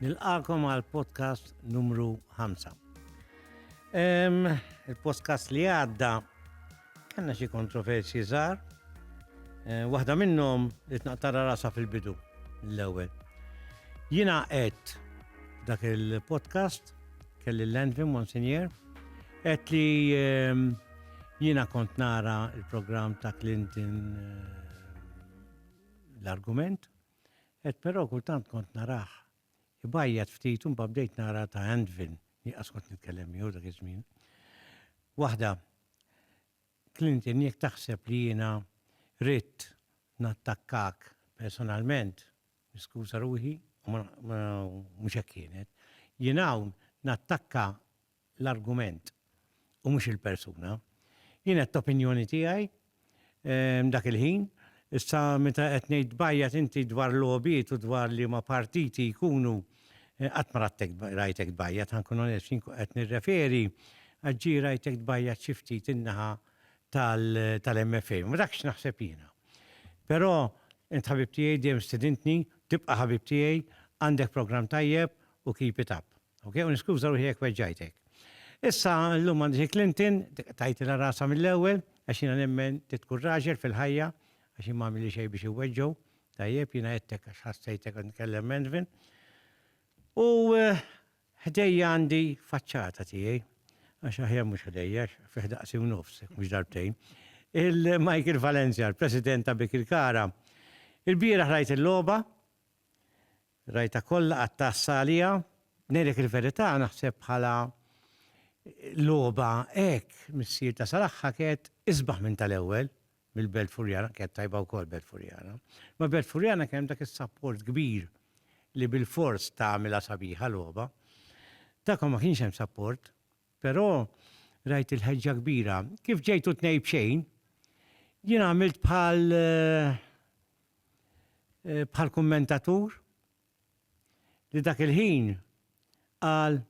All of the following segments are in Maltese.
Nilqakom għal podcast numru 5. Il-podcast li għadda kanna xi kontroversi żgħar. Eh, waħda minnhom li tnaqtara rasa fil-bidu l-ewwel. Jiena qed dak il-podcast kelli l-Landvin Monsignor qed li jiena kont nara il-programm ta' Clinton eh, l-argument Qed però kultant kont narah ibajjat ftit u mbagħad bdejt nara ta' Andvin, jien qas kont nitkellem miegħu dak iż-żmien. Waħda, Clinton jekk taħseb li jiena ridt nattakkak personalment, niskuża ruħi u mhux hekk kienet. Jien hawn nattakka l-argument u mhux il-persuna. Jien għedt opinjoni tiegħi dak il-ħin, issa meta qed ngħid tbajjat inti dwar logħbiet u dwar liema partiti jkunu qatt ma rattek rajtek tbajjat ħankun onest jien qed nirreferi għax ġie rajtek tbajjat xi ftit in-naħa tal-MFA. Ma dak x'naħseb jiena. Però int ħabib tiegħi dejjem stidintni, tibqa' ħabib tiegħi, għandek programm tajjeb u keep it up. Ok, u niskuża ruħi jekk weġġajtek. Issa llum għandi xi Clinton, tajtilha rasha mill-ewwel, għax jiena nemmen trid tkun raġel fil-ħajja, għax jien ma għamilli xejn biex iweġġgħu, tajjeb, jiena għedtek għax ħassejtek qed nitkellem menvin. U eh, ħdejja għandi faċċata tiegħi, għax aħjar mhux ħdejja, fih daqsi u nofs, mhux darbtejn. Il-Michael Valencia, il-President ta' Bikil Kara, il-bieraħ rajt il-logħba, Rajtha kollha qatt tgħassa għaliha. Ngħidlek il-verità naħseb bħala logħba hekk missier ta' Salahha kienet isbaħ minn tal-ewwel mill-Belt Furjana, kienet tajba wkoll Belt Furjana. Imma Belt Furjana kien hemm dak is-sapport kbir li bilfors tagħmilha sabiħa logħba. Tagħkom ma kienx hemm sapport, però rajt il-ħeġġa kbira. Kif ġejtu tnejn b'xejn, jien għamilt bħal bħal kummentatur li dak il-ħin qal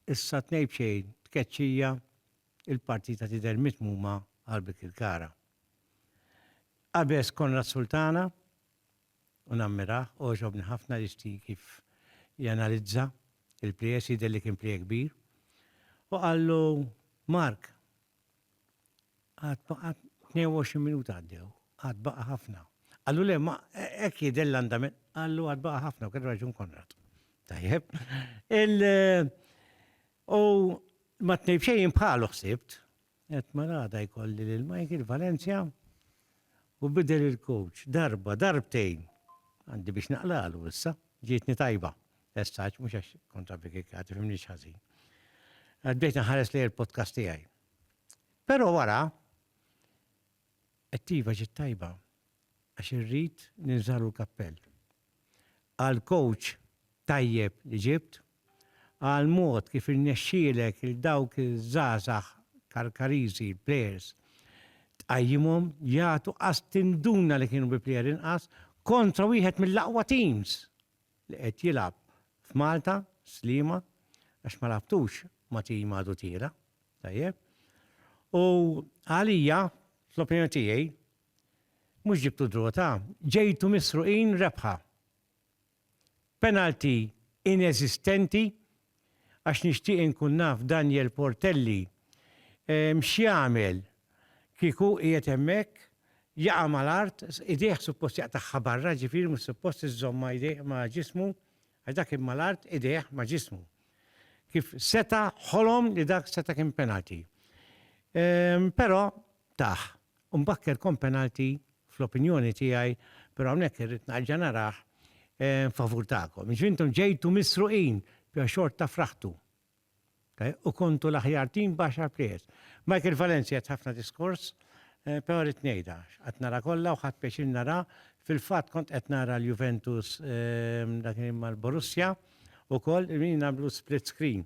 issa tnej b'xejn tkeċċija il-partita tidher mitmuma għal Birkirkara. Qabeż Konrad Sultana u nammirah għoġobni ħafna jixti kif janalizza il-plejers jidher li kien plejja kbir u qallu Mark Għad baqa' 22 minuta għaddew, għad baqa' ħafna. Għallu le, ma hekk jidher l-andament, għallu għad baqa' ħafna u kellu raġun Konrad. Tajjeb. Il u ma tnejb xejn bħalu ħsibt, qed marada jkolli lil Michael Valencia u bidel il-coach darba, darbtejn. Għandi biex naqlalu issa, ġietni tajba. Essaċ, mhux għax kontra bikikati, fimni ħażin. Għaddejt nħares li il-podcast tiegħi. Però wara, t-tiefa ġiet tajba għax irrid ninżagħlu l-kappell għal kowċ tajjeb li ġibt, għal mod kif irnexxielek lil dawk iż-żgħażagħ Karkariżi, l-plejers, tqajjimhom jagħtu qas tinduna li kienu bi plejer inqas kontra wieħed mill-aqwa teams li qed jilgħab f'Malta, Sliema, għax ma lagħabtux ma' tim għadu tira', tajjeb. U għalija, fl-opinjoni tiegħi, mhux ġibtu draw ta', ġejtu misruqin rebħa. Penalty ineżistenti għax nixtieq inkun naf Daniel Portelli x'jagħmel kieku hu qiegħed hemmhekk, jaqa' mal-art, idejh suppost jaqtagħha barra, ġifieri mhux suppost iżżommha idejh ma' ġismu, għax dak kien mal-art, idejh ma' ġismu. Kif seta' ħolom li dak seta' kien penalty. Però tah, Mbakker kon penalty fl-opinjoni tiegħi, però hawnhekk irrid nerġa' narah favur tagħkom. Jiġifieri intom ġejtu misruqin, però xorta fraħtu u kontu l-aħjar team b'għaxar players. Michael Valencia għedt ħafna diskors, però rrid ngħidha, x'qgħadt nara kollha u ħadt pjaċir nara, fil-fatt kont qed nara l-Juventus dak li kien mal-Borussia wkoll, qegħdin nagħmlu split screen.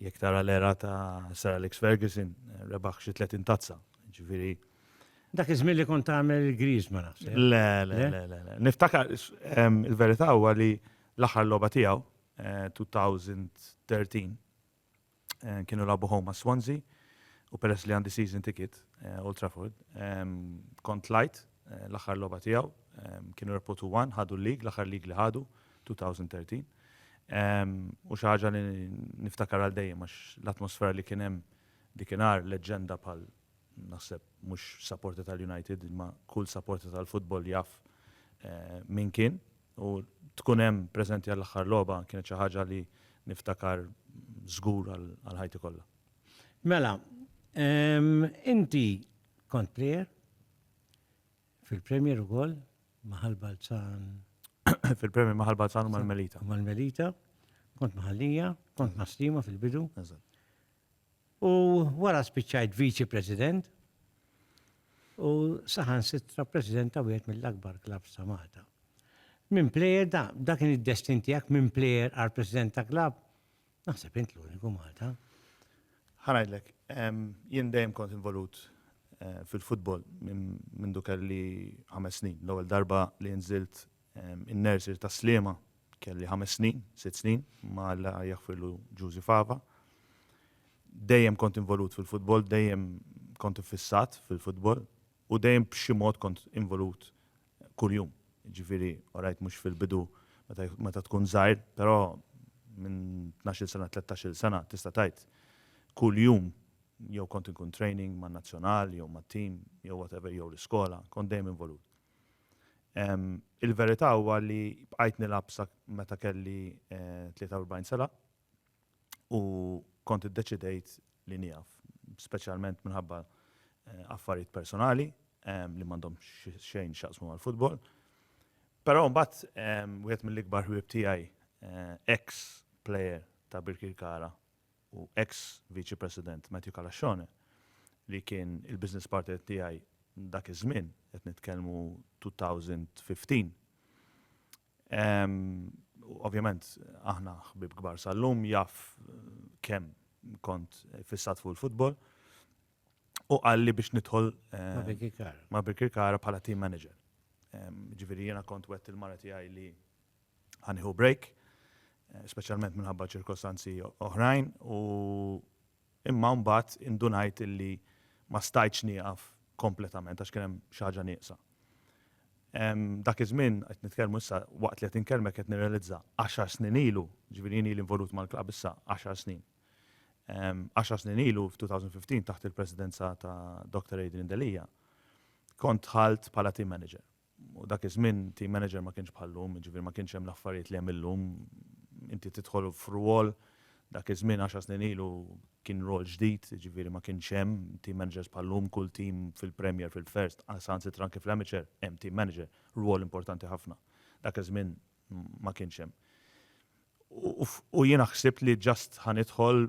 Jekk tara l-era ta' Sir Alex Ferguson, rebaħ xi 30 tazza, ġifieri. Dak iż-żmien li kont tagħmel il-griż ma naħseb. Le, le, le, le. Niftakar il-verità huwa li l-aħħar logħba tiegħu 2013 kienu lagħbu home ma' Swansea u peress li għandi season ticket Old Trafford kont tlajt l-aħħar logħba tiegħu kienu rebħu 2-1 ħadu l-lig, l-aħħar lig li ħadu 2013. U xi ħaġa li niftakar għal dejjem għax l-atmosfera li kien hemm dikinhar leġġenda bħal naħseb mhux supporter tal-United imma kull supporter tal-futbol jaf min kien u tkun hemm preżenti għall-aħħar logħba kienet xi ħaġa li niftakar żgur għal ħajti kollha. Mela, inti kont plejer, Fil-Premier ukoll maħal Balzan. Fil-Premier maħal Balzan u mal-Melita. Mal-Melita, kont maħallija, kont maslima fil-bidu. U wara spiċċajt viċi president u saħan sitra president ta' wieħed mill-akbar klab sa' Malta. Minn plejer da, da kien id-destin tiegħek minn plejer għal president ta' klab Naħseb int l-uniku Malta. Ħanajdlek, jien dejjem kont involut eh, fil-futbol minn dukar li ħames snin. L-ewwel darba li nżilt in-nersir ta' Slima kelli ħames snin, sitt snin, ma la jaħfirlu Ġużi Fava. Dejjem kont involut fil-futbol, dejjem kont fissat fil-futbol u dejjem b'xi mod kont involut kull jum. Jiġifieri, orajt mhux fil-bidu meta tkun żgħir, però minn tnax-il sena, tlettax-il sena tista' tgħid kull jum jew kont inkun training man-nazzjonal jew mat-tim jew whatever jew l-iskola, kont dejjem involut. Il-verità huwa li bqajt nilgħab sa meta kelli 43 sena. u kont iddeċidejt li nieqaf, speċjalment minħabba affarijiet personali li m'għandhom xejn x'jaqsmu mal-futbol. Però mbagħad wieħed mill-ikbar ħbieb tiegħi, ex player ta' Birkirkara u ex Viċi President Matthew Calasscione, li kien il-business partner tiegħi dak iż-żmien, qed nitkellmu 2015, Ovvjament, aħna ħbib kbar sal-lum jaf kemm kont fissat fuq il-futbol. U qalli biex nidħol ma' Birkirkara bħala team manager. Ġifieri jiena kont wett il-mara tiegħi li ħanieħu break, speċjalment minħabba ċirkostanzi oħrajn u Imma mbagħad indunajt illi ma stajtx nieqaf kompletament għax kien hemm xi ħaġa nieqsa. Dak iż-żmien, qed nitkellmu issa waqt li qed inkellmek qed nirrealizza, għaxar snin ilu, jiġifieri jien ili involut mal-klabb issa għaxar snin. Għaxar snin ilu, f'2015 taħt il-presidenza ta' Doctor Adrian Delia, kont dħalt bħala team manager. U dak iż-żmien team manager ma kienx bħal llum, jiġifieri ma kienx hemm l-affarijiet li hemm illum. Inti tidħol f'rwol, dak iż-żmien għaxar snin ilu kien rwol ġdid, jiġifieri ma kienx hemm team managers bħal llum, kull team fil-Premier, fil-First, saħansitra anke fl-Amateur hemm team manager, rwol importanti ħafna. Dak iż-żmien ma kienx hemm. U jiena ħsibt li ġast ħa nidħol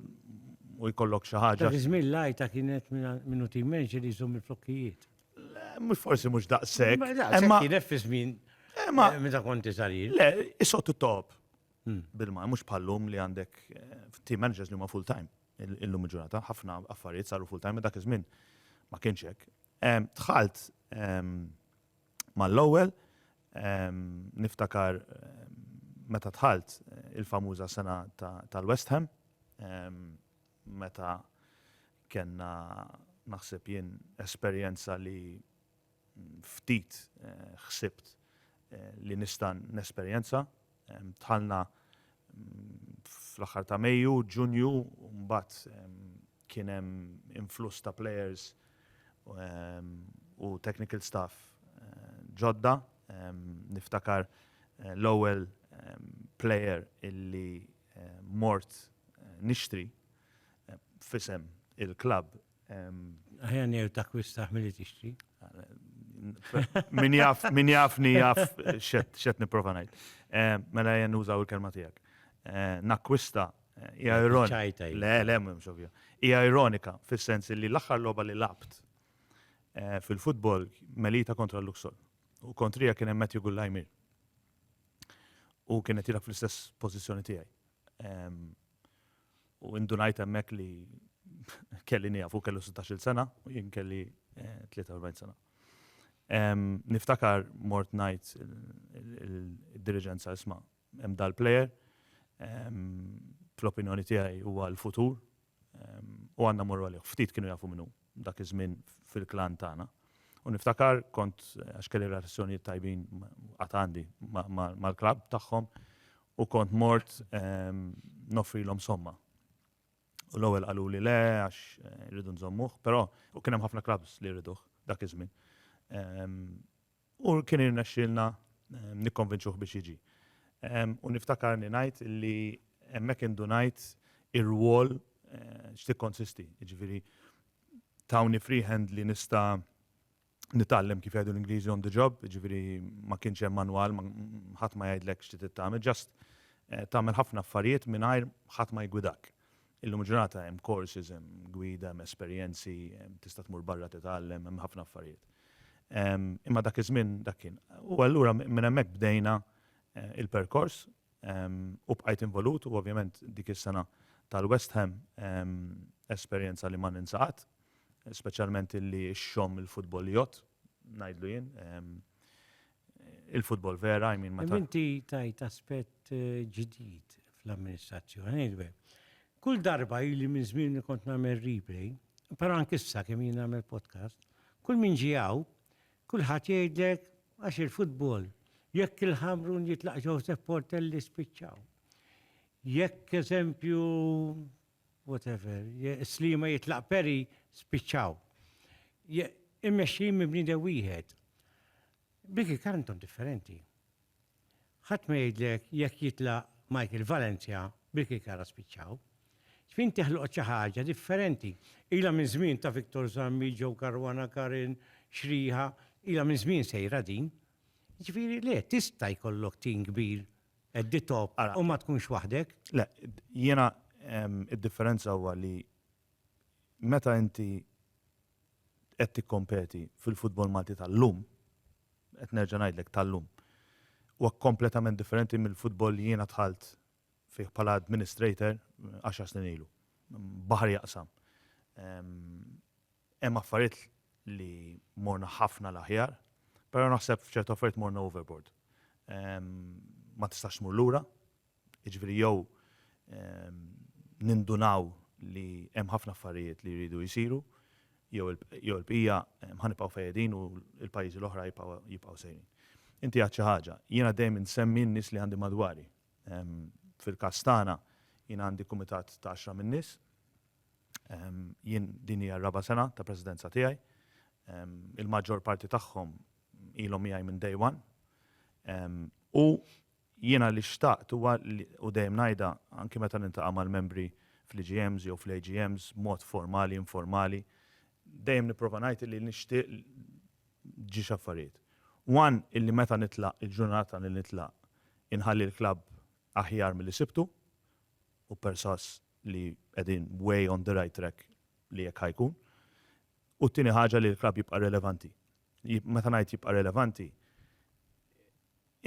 u jkollok xi ħaġa. Dak iż-żmien l-għajta kienet minn u tim manager li jżomm il-flokkijiet. Mhux forsi mhux daqshekk. Imma kienet fi żmien imma meta kont iżarir. Le, isottu top. Hmm. Bil-ma, mhux bħallum li għandek eh, team managers li huma full time. Illum il-ġurnata, ħafna affarijiet saru full time, dak iż-żmien ma kienx hekk. Tħalt Mal-ewwel, niftakar meta dħalt il-famuża sena tal-West Ham, meta kellna naħseb jien esperjenza li ftit ħsibt li nista' nesperjenza. Dħalna fl-aħħar ta' Mejju, Ġunju, mbagħad kien hemm influss ta' players u technical staff ġodda. Niftakar l-ewwel player illi mort nixtri f'isem il-klabb Aħjar ngħidu takkwistaħ milli tixtri. Min jaf, min jafni jaf xed nipprova ngħid. Eh, mela jen użaw il-kelma tiegħek. Eh, nakkwista eh, hija ironika. Le, le, mhux ovvja. Hija ironika fis-sens li l-aħħar logħba li labt fil-futbol melita kontra l-Luxol. U kontrija kien hemm Matthew Gullajmir. U kienet jilab fl-istess pożizzjoni tiegħi. Ehm, U indunajt hemmhekk li kelli nieqaf u kellu 16-il sena u jien kelli 43 eh, sena. Niftakar mort ngħid id-diriġenza isma' hemm dal-plejer fl-opinjoni tiegħi huwa l-futur u għandna morru għalih. Ftit kienu jafu minnu dak iż-żmien fil-klan tagħna. U niftakar kont għax kelli relazzjonijiet tajbin għatandi mal-klab tagħhom u kont mort noffrilhom somma. U l-ewwel qalu li le għax rridu nżommuh, però u kien hemm ħafna clubs li rriduh dak iż-żmien. U kien irnexxielna nikkonvinċuh biex jiġi. U niftakarni ngħid li hemmhekk indunajt ir-rwol x'tikkonsisti. Jiġifieri tawni free hand li nista' nitgħallem kif jgħidu l-Ingliżi on the job, ġifieri ma kienx hemm manwal, ħadd ma jgħidlek x'ti tagħmel, ġast eh, tagħmel ħafna affarijiet mingħajr ħadd ma jgwidak. Illum ġurnata hemm courses, hemm gwida, hemm esperjenzi, tista' tmur barra titgħallem, hemm ħafna affarijiet. Imma dak iż-żmien dak kien. U allura minn hemmhekk bdejna eh, il-perkors u bqajt involut u ovvjament dik is-sena tal-West Ham esperjenza li ma ninsaqat speċjalment illi x-xomm il-futbol jgħodd, ngħidlu jien. Il-futbol vera, I mean, meta. Inti tajt aspett eh, ġdid fl-amministrazzjoni, Kull darba ili minn żmien li kont nagħmel replay, però anke issa kemm jien nagħmel podcast, kull min ġijaw, kulħadd jgħidlek għax il-futbol, jekk il-ħamrun jitlaq Joseph Portelli spiċċaw. Jekk eżempju whatever, je, slima jitlaq peri, spiċċaw. Je, immexxijin minn bniedem wieħed. Biki kantom differenti. Ħadd ma jgħidlek jekk jitlaq Michael Valencia biki kara spiċċaw. Fin teħloq xi ħaġa differenti. Ilha minn żmien ta' Victor Zammi, Joe Caruana Karin, Xriha, ilha minn żmien sejra din. Jiġifieri le, tista' jkollok tim kbir At the top. U ma tkunx waħdek? Le, jiena id-differenza huwa li meta inti qed tikkompeti fil-futbol Malti tal-lum, qed nerġa' ngħidlek tal-lum, huwa kompletament differenti mill-futbol li jiena dħalt fih bħala administrator għaxar snin ilu. Baħar jaqsam. Hemm affarijiet li morna ħafna l-aħjar, però naħseb f'ċerti affarijiet morna overboard. Ma tistax tmur lura, jiġifieri jew nindunaw li hemm ħafna affarijiet li jridu jsiru jew il-bqija ħa nibqgħu fejn qegħdin u l-pajjiżi l-oħra jibqgħu sejrin. Inti għedt xi ħaġa, jiena dejjem insemmi n-nies li għandi madwari. Fil-każ tagħna jiena għandi kumitat ta' għaxra min-nies, Jien din hija r-raba' sena ta' presidenza tiegħi. Il-maġġor parti tagħhom ilhom miegħi minn day one. U jiena li xtaqt huwa u dejjem ngħidha anki meta niltaqa' mal-membri fl-EGMs jew fl-AGMs b'mod formali, informali, dejjem nipprova ngħid li nixtieq ġiex affarijiet. One, illi meta nitlaq, il-ġurnata li nitlaq, inħalli l-klabb aħjar milli sibtu, u persważ li qegħdin way on the right track li hekk ħa jkun. U t-tieni ħaġa li l-klabb jibqa' relevanti. Meta ngħid jibqa' relevanti,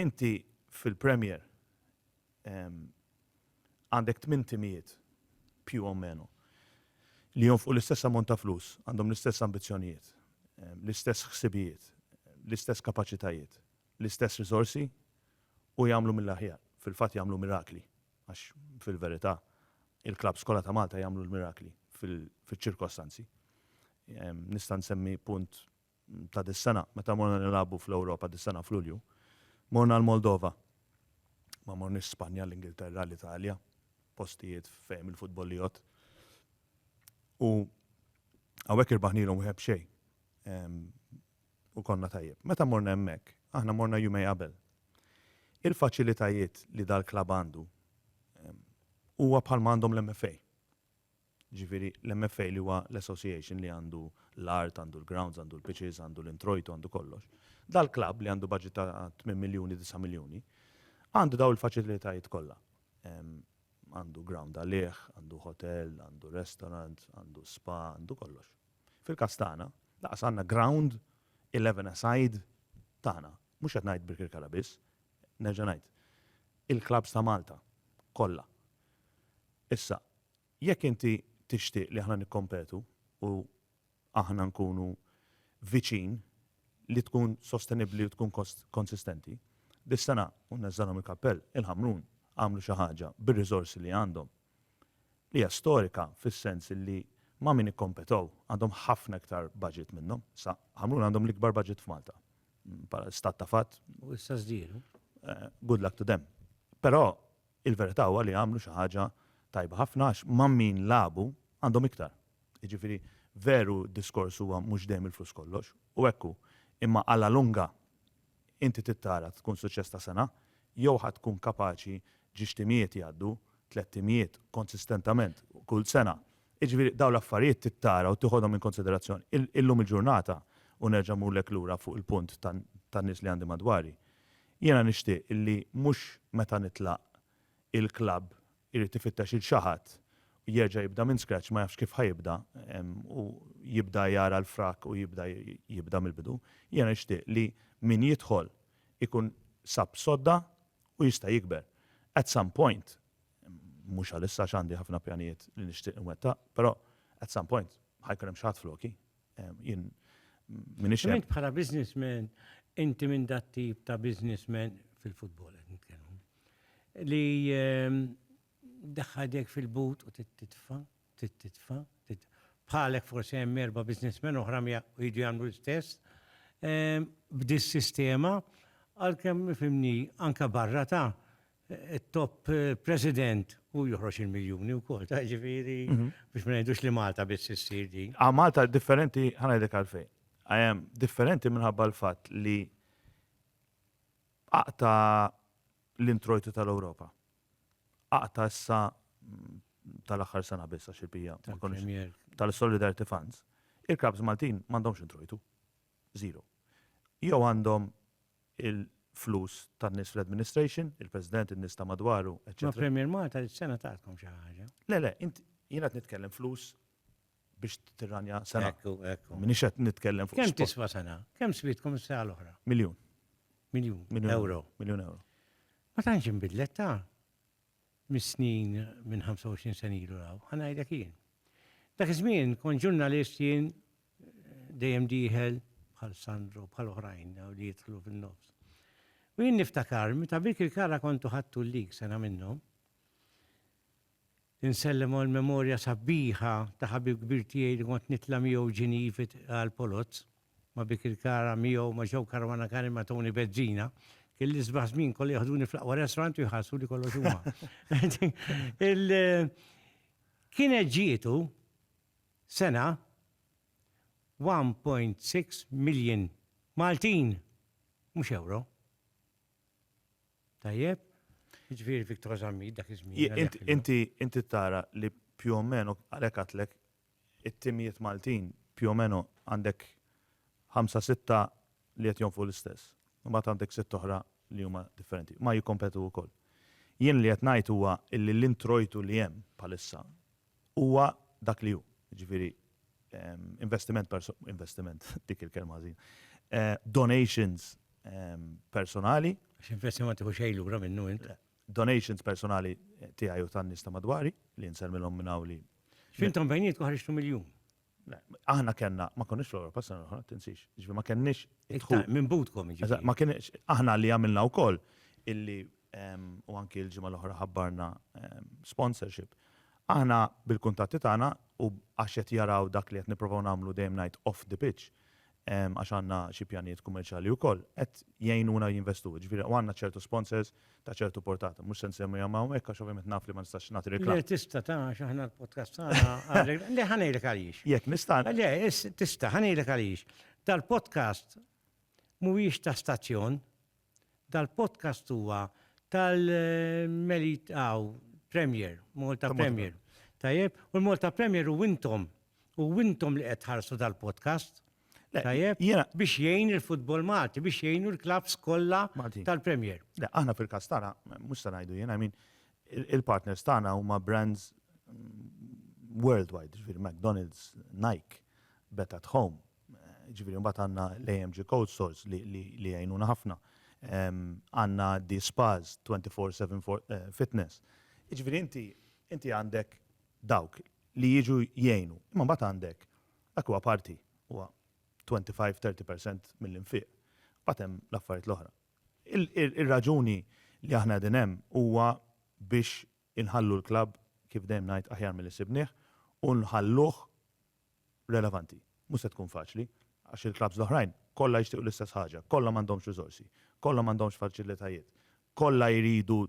inti fil-Premier għandek tmien timijiet più o meno li jonfqu l-istess ammont ta' flus, għandhom l-istess ambizzjonijiet, l-istess ħsibijiet, l-istess kapaċitajiet. l-istess riżorsi u jagħmlu mill-aħjar, fil-fatt jagħmlu mirakli, għax fil-verità il-klabbs kollha ta' Malta jagħmlu l-mirakli fiċ-ċirkostanzi. Nista' nsemmi punt ta' dis-sena, meta morna nilagħbu fl-Ewropa dis-sena f'Lulju, morna l-Moldova, ma morniex Spanja, l-Ingilterra, l-Italja, postijiet fejn il-futbol jgħodd. U hawnhekk irbaħnielhom wieħed b'xejn. u konna tajjeb. Meta morna hemmhekk, aħna morna jumej qabel. Il-faċilitajiet li dal-klabb għandu huwa bħalma għandhom l-MFA. Ġifieri l-MFA li huwa l-association li għandu l-art, għandu l-grounds, għandu l-pitches, għandu l-introjtu, għandu kollox. Dal-klabb li għandu budget ta' 8 miljuni, 9 miljuni, għandu daw il-faċilitajiet kollha. Għandu ground għalih, għandu hotel, għandu restaurant, għandu spa, għandu kollox. Fil-każ tagħna, lanqas għandna ground eleven a side tagħna. Mhux qed ngħid Birkirkara biss, nerġa' ngħid, il-klabbs ta' Malta kollha. Issa, jekk inti tixtieq li aħna nikkompetu u aħna nkunu viċin li tkun sostenibbli u tkun konsistenti, dis-sena, u nneżżagħlhom il-kappell, il-Ħamrun għamlu xi ħaġa bir-riżorsi li għandhom li hija storika fis-sens li ma' min ikkompetow għandhom ħafna iktar budget minnhom. Issa, Ħamrun għandhom l-ikbar budget f'Malta, bħala stat ta' fatt. U issa żdiedu. Good luck to them. Però il-verità huwa li għamlu xi ħaġa tajba ħafna għax ma' min lagħbu għandhom iktar. Jiġifieri, veru d-diskors huwa mhux dejjem il-flus kollox, u hekk hu, imma għal la lunga Inti tittara tkun suċċess ta' sena jew ħa tkun kapaċi ġiex timijiet jgħaddu, tlett timijiet konsistentament kull sena. Jiġifieri dawn l-affarijiet tittara u tiħodhom in konsiderazzjoni. Illum il-ġurnata, u nerġa' mmurlek lura fuq il-punt tan-nies li għandi madwari, jiena nixtieq illi mhux meta nitlaq il-klabb irid ifittex lil xi ħadd u jerġa' jibda minn scratch ma jafx kif ħa jibda u jibda jara l-frak u jibda jibda mill-bidu. Jiena nixtieq li min jidħol ikun sab sodda u jista' jikber. At some point, mhux għalissa għax għandi ħafna pjanijiet li nixtieq inwettaq, però at some point ħa jkun hemm xi ħadd floki. Jien minix. Int bħala businessman, inti minn dat tip ta' businessman fil-futbol qed nitkellmu. Li ehm, daħħadek fil-but u titfa, titfa, bħalek forsi hemm erba' businessmen oħra u jiġu jagħmlu l-istess. Ehm, b'dis sistema għalkemm mifimni anka barra ta' it-top president hu joħroġ il-miljuni wkoll, ta' ġifieri biex ma ngħidux li Malta biss issir din. A Malta differenti ħanajdek għalfejn. Għajem differenti minħabba l-fatt li aqta l-introjtu tal-Ewropa. Aqta issa mm, tal-aħħar sena biss għax il-bija tal-Solidarity Funds. Il-Krabs Maltin m'għandhomx introjtu. żero. Jew għandhom il-flus tan-nies fl-administration, il-President, in-nies ta' madwaru, eċċetera. Ma Premier Malta dis-sena tatkom xi ħaġa. Le, le, int, jiena qed nitkellem flus biex tirranja sena. Ekku, ekku. M'iniex qed nitkellem fuq. Kemm tiswa sena? Kemm switkom is-sena l-oħra? Miljun. Miljun. Miljun. Ewro. Miljun ewro. Ma tantx inbidlet, ta? mis-snin minn 25 sena ilu 'l hawn, ħa ngħidlek jien. Dak iż-żmien kont ġurnalist jien dejjem dieħel bħal Sandro, bħal oħrajn li jidħlu fin-nofs. U jien niftakar meta Birkirkara kontu ħadtu l-lig sena minnhom, insellem għall-memorja sabiħa ta' ħabib kbir tiegħi li kont nitla' miegħu Ġinievi għall-Polozz, Ma bik il-kara miegħu ma ġew karwana kani ma tawni bezzina. Kien l-isbaħ żmien kolli jaħduni fl-aqwa restaurant u jħassu li kollox huma. Kienet ġietu sena 1.6 million Maltin, mhux euro. Tajjeb? Ġifieri Victor Zammit dak iż-żmien. Inti tara li più o meno għalhekk għatlek it-timijiet Maltin più o meno għandek ħamsa sitta li qed jonfqu l-istess. Imbagħad għandek sitt oħra li huma differenti. Ma jikkompetu wkoll. Jien li qed ngħid huwa illi l-introjtu li hemm bħalissa huwa dak li hu, jiġifieri investiment investiment, dik il-kelma ħażina, donations personali. Għax investiment ma tieħu xejn lura minnu int. Le. donations personali tiegħi u tan-nies ta' madwari li nsemmilhom minn hawn li X'intom bejnietkom ħriġtu miljun. Aħna kellna, ma konniex fl-Ewropa sena l-oħra, tinsix. Ġifi ma kenniex idħul. Minn butkom ġifi. Ma kienx aħna li għamilna wkoll illi u anki l-ġimgħa l-oħra ħabbarna sponsorship. Aħna bil-kuntatti tagħna u għax qed jaraw dak li qed nipprovaw nagħmlu dejjem ngħid off the pitch, għax għandna xi pjanijiet kummerċjali wkoll, qed jgħinuna jinvestu, jiġifieri u għandna ċertu sponsors ta' ċertu portata. Mhux se nsemmihom hawnhekk għax ovvjament naf li ma nistax nagħti reklam. Le tista' ta' għax aħna l-podcast tagħna le ħa ngħidlek għaliex. Jekk nista'. Le tista' ħa ngħidlek għaliex. Dal-podcast mhuwiex ta' stazzjon, Dal-podcast huwa tal Melit hawn Premier, Malta Premier. Tajjeb? U l-Malta Premier u intom. U intom li qed tħarsu dal-podcast. Tajjeb? Biex jgħin il-futbol Malti, biex jgħinu l-klabs kollha tal-Premier. Le, aħna fil-każ tagħna, mhux se ngħidu jien, I mean, il-partners tagħna huma brands mm, worldwide, ġifieri McDonald's, Nike, Bet at Home, Jiġifieri mbagħad għandna l-AMG Code Stores li jgħinuna ħafna. Għandna di spas 24/7 fitness. Jiġifieri inti inti għandek dawk li jiġu jgħinu. Imma mbagħad għandek dak huwa parti, huwa 25, 30 percent mill-infiq. Mbagħad hemm l-affarijiet l-oħra. Ir-raġuni li aħna qegħdin hemm huwa biex inħallu l-klabb, kif dejjem ngħid, aħjar milli sibnieh u nħalluh relevanti. Mhux se tkun faċli, għax il-klabbs l-oħrajn kollha jixtiequ l-istess ħaġa, kollha m'għandhomx riżorsi, kollha m'għandhomx faċilitajiet, kollha jridu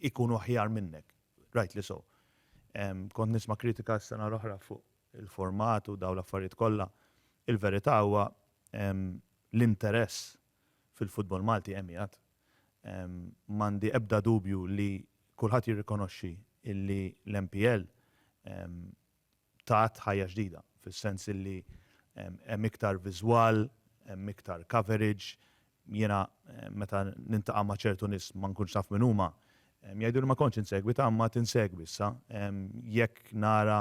jkunu aħjar minnek, rightly so. Kont nisma' kritika s-sena l-oħra fuq il-format u dawn l-affarijiet kollha. Il-verità huwa l-interess fil-futbol Malti hemm qiegħed. M'għandi ebda dubju li kulħadd jirrikonoxxi li l-MPL tat ħajja ġdida, fis-sens illi hemm iktar viżwal, hemm iktar coverage, jiena meta nintaqa' ma' ċertu nies ma nkunx naf min huma, jgħiduli ma kontx insegwi, ta' imma għad insegwi issa, jekk nara.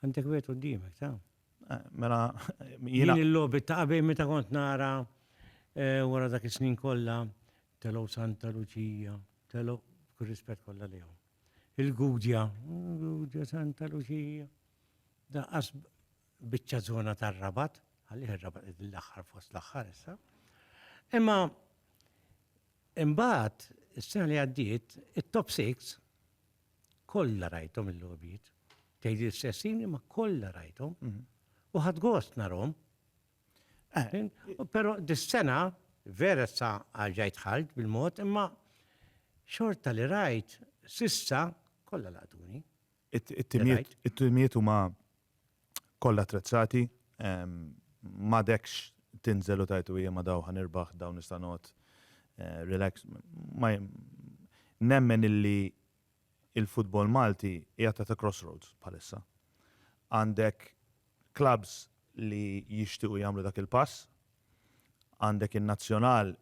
Għandek wieħed quddiemek, ta'. Mela jiena. Din il-logħbiet ta' qabel meta kont nara wara dak is-snin kollha telgħu Santa Luċija, telgħu, b'kull rispett kollha lejhom. Il-Gudja, Gudja Santa Luċija, daqqas biċċa zona tar-rabat, għalli ir-rabat id l-axħar fost l-axħar issa. Imma imbagħad is-sena li għaddiet it-top 6 kollha rajthom il-logħbiet. Tgħid l-istessin imma kollha rajthom. Mhm. U ħadd gost narhom. Però dis-sena vera sa għaġajt dħalt bil-mod imma xorta li rajt s'issa kollha laqtuni. It-timijiet huma kollha attrezzati, m'għadekx tinżel u tgħid u jiema daw ħa nirbaħ daw nista' noqgħod relax. Nemmen illi Il-futbol Malti qiegħed at a crossroads bħalissa. Għandek clubs li jixtiequ jagħmlu dak il-pass, għandek in-Nazzjonal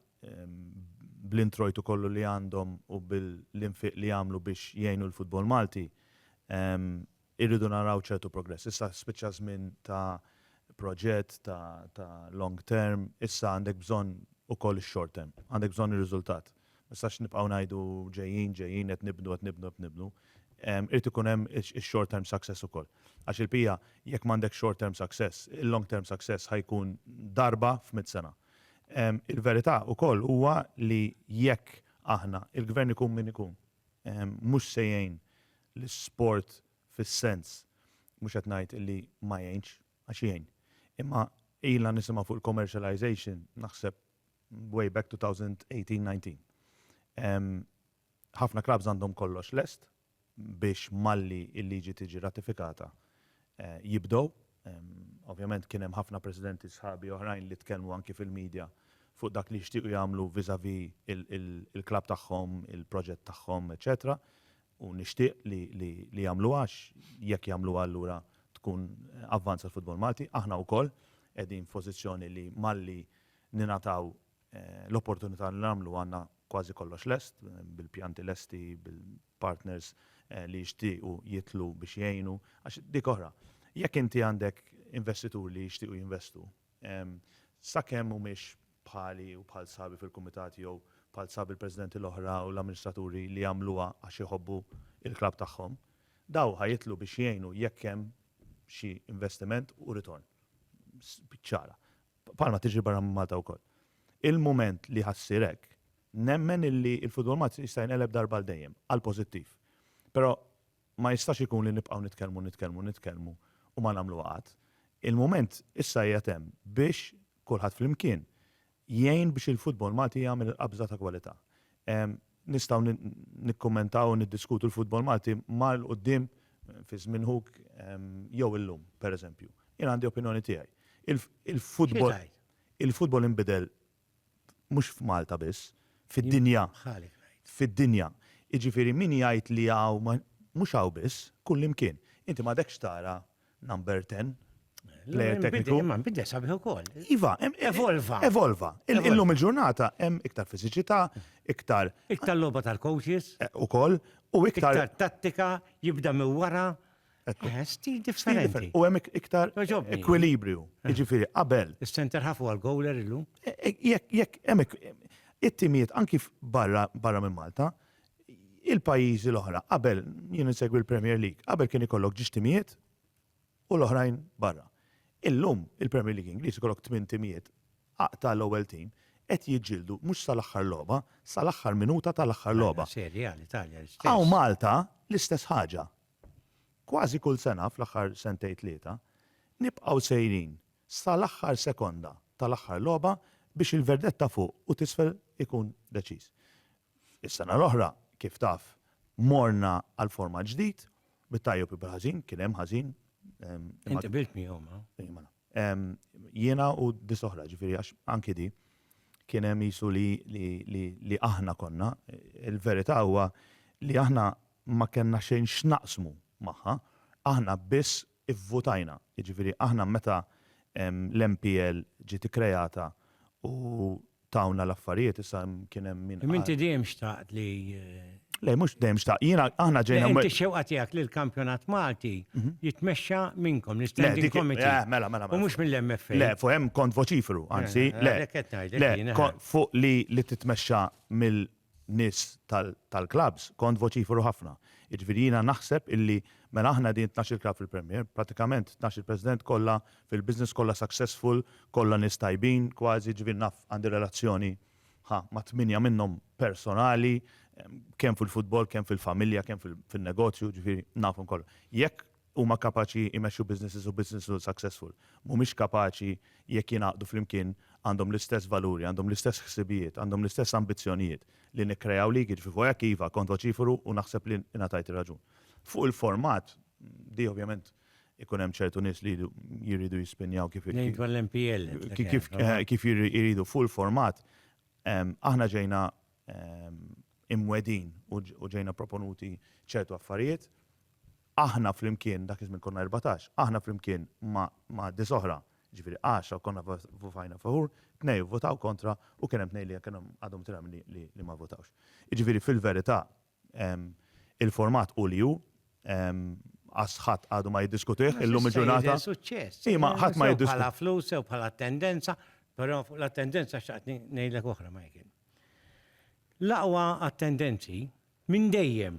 bl-introjtu kollu li għandhom u bil-infiq li għamlu biex jgħinu l-futbol Malti, Irridu naraw ċertu progress. Issa spiċċa żmien ta' proġett ta' ta' long term, issa għandek bżonn ukoll ix-short term. Għandek bżonn ir-riżultat. Ma nistax nibqgħu ngħidu ġejjin, ġejjin, qed nibnu, qed nibnu, qed nibnu. Irid ikun hemm ix-short term success ukoll. Għax il-PIA jekk m'għandekx short term success, il-long term success ħa jkun darba f'mitt sena. Il-verità ukoll huwa li jekk aħna, il-Gvern ikun min ikun, mhux se jgħin l-isport fis-sens, mhux qed ngħid illi ma jgħinx, għax jgħin. Imma ilna nisimgħu fuq il-commercialization naħseb way back 2018, 19. Ħafna klabbs għandhom kollox lest biex malli l-liġi tiġi ratifikata jibdew Ovvjament kien hemm ħafna Presidenti sħabi oħrajn li tkellmu anki fil-media fuq dak li jixtiequ jagħmlu vis-à-vis il-klabb tagħhom, il-proġett tagħhom, eċċetera U nixtieq li jagħmluha għax jekk jagħmluha allura tkun avvanz għall-futbol Malti. Aħna wkoll qegħdin f'pożizzjoni li malli ningħataw l-opportunità li nagħmlu għandna kważi kollox lest, bil-pjanti lesti, bil-partners li jixtiequ jidħlu biex jgħinu. Għax dik oħra, jekk inti għandek investituri li jixtiequ jinvestu, sakemm mhumiex bħali u bħal sħabi fil-kumitat jew bħal sħab il-presidenti l-oħra u l-amministraturi li jagħmluha għax iħobbu l-klabb tagħhom, dawn ħa jidħlu biex jgħinu jekk hemm xi investiment u ritorn. Biċ-ċara. bħalma tiġri barra minn Malta wkoll. Il-mument li ħassir hekk, nemmen illi il-futbol Malti jista' jinqeleb darba għal dejjem, għal pożittiv. Però ma jistax ikun li nibqgħu nitkellmu, nitkellmu, nitkellmu u ma nagħmlu qatt. Il-mument issa qiegħed hemm biex kulħadd flimkien jgħin biex il-futbol Malti jagħmel il-qabża ta' kwalità. Nistgħu nikkummentaw u niddiskutu l-futbol Malti mar 'l quddiem fi żmien Hug jew illum, pereżempju. Jien għandi opinjoni tiegħi. Il-futbol il-futbol inbidel mhux f'Malta biss, fid-dinja. Fid-dinja. Jiġifieri min jgħid li hawn mhux hawn biss, kullimkien. Inti m'għadekx tara Number 10. Player tekniku. Imma nbidel sabiħ ukoll. Iva, evolva. Evolva. Illum il-ġurnata hemm iktar fiżiċità, iktar. Iktar logħba tal-coaches. Eh, ukoll. U iktar. Iktar tattika, jibda minn wara. Eh, stil differenti. U hemm iktar ekwilibriju. Eh. Jiġifieri qabel. Is-center ħafu għal-goaler illum. Jekk hemm it-timijiet anki barra minn Malta, il-pajjiżi l-oħra qabel jien insegwi l-Premier League, qabel kien ikollok ġiex timijiet u l-oħrajn barra. Illum il-Premier League Ingliż ikollok tmien timijiet ta' l-ewwel tim qed jiġġieldu mhux sa l-aħħar logħba, sa l-aħħar minuta ta' l-aħħar logħba. Hawn Malta l-istess ħaġa. Kważi kull sena fl-aħħar sentejn tlieta nibqgħu sejrin sa l-aħħar sekonda ta' l-aħħar logħba biex il-verdett ta' fuq u t'isfel ikun deċiż. Is-sena l-oħra, kif taf, morna għal format ġdid, bit-tajjeb u bil-ħażin, kien hemm ħażin. Int qbilt miegħu, ma? Mela. Jiena u dis oħra, ġifieri għax anki di kien hemm jisu li aħna konna. Il-verità huwa li aħna ma kellna xejn x'naqsmu magħha, aħna biss ivvutajna, jiġifieri aħna meta l-MPL ġiet ikkrejata u tawna l-affarijiet, issa kien hemm min qal. Imma inti dejjem xtaqt li. Le, mhux dejjem xtaqt. Jiena, aħna ġejna. Inti x-xewqa tiegħek li l-kampjonat Malti jitmexxa minnkom, l-Standing Committee. Le, mela, mela. U mhux mill-MFA. Le, fuq hemm kont voċiferu, anzi, le. Fuq li titmexxa nies tal-klabbs kont voċiferu ħafna. Jiġifieri jiena naħseb illi mela aħna qegħdin tnax-il klabb fil-Premier, prattikament tnax-il president kollha fil-business, kollha successful, kollha nies tajbin kważi, jiġifieri naf għandi relazzjoni ħa ma' tmienja minnhom personali, kemm fil-futbol, kemm fil-familja, kemm fin-negozju, jiġifieri nafhom kollha. Jekk huma kapaċi jmexxu businesses u businesses huma successful. Mhumiex kapaċi jekk jingħaqdu flimkien għandhom l-istess valuri, għandhom l-istess ħsibijiet, għandhom l-istess ambizzjonijiet li nikkreaw league, jiġifieri fuq hekk iva kont voċiferu u naħseb li ingħatajt ir-raġun. Fuq il-format, di ovvjament ikun hemm ċertu nies li jridu jispinjaw kif iridu. Ngħid dwar l-MPL. Kif iridu. Fuq il-format, aħna ġejna imwedin u ġejna proponuti ċertu affarijiet. Aħna flimkien, dak iż-żmien konna 14, aħna flimkien ma' dis oħra, ġifieri 10 konna votajna favur, tnejn ivvotaw kontra u kien hemm tnejn li kienu għadhom tilgħab li ma votawx. Jiġifieri fil-verità Il-format hu li hu, għax ħadd għadu ma jiddiskutih illum il-ġurnata. Imma ħadd ma jiddiskutih. Bħala flus jew bħala attendenza, però fuq l-attendenza xtaqt ngħidlek oħra Michael. L-aqwa attendenzi minn dejjem,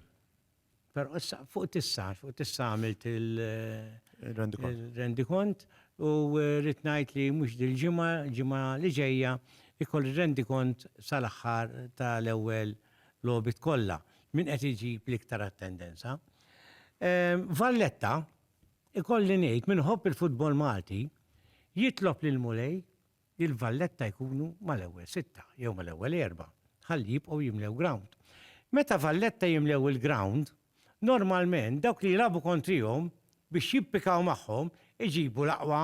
però issa fuq tista' fuq tista' għamilt il-rendikont u rrid ngħid li mhux dil-ġimgħa, ġimgħa li ġejja, ikolli rendikont sal-aħħar tal-ewwel logħbiet kollha, min qed iġib l-iktar attendenza. Valletta, ikolli ngħid, min iħobb il-futbol Malti, jitlob lill-Mulej li l-Valletta jkunu mal-ewwel sitta jew mal-ewwel erbgħa, ħalli jibqgħu jimlew ground. Meta Valletta jimlew il-ground, Normalment dawk li jilagħbu kontrihom biex jippikaw magħhom iġibu l-aqwa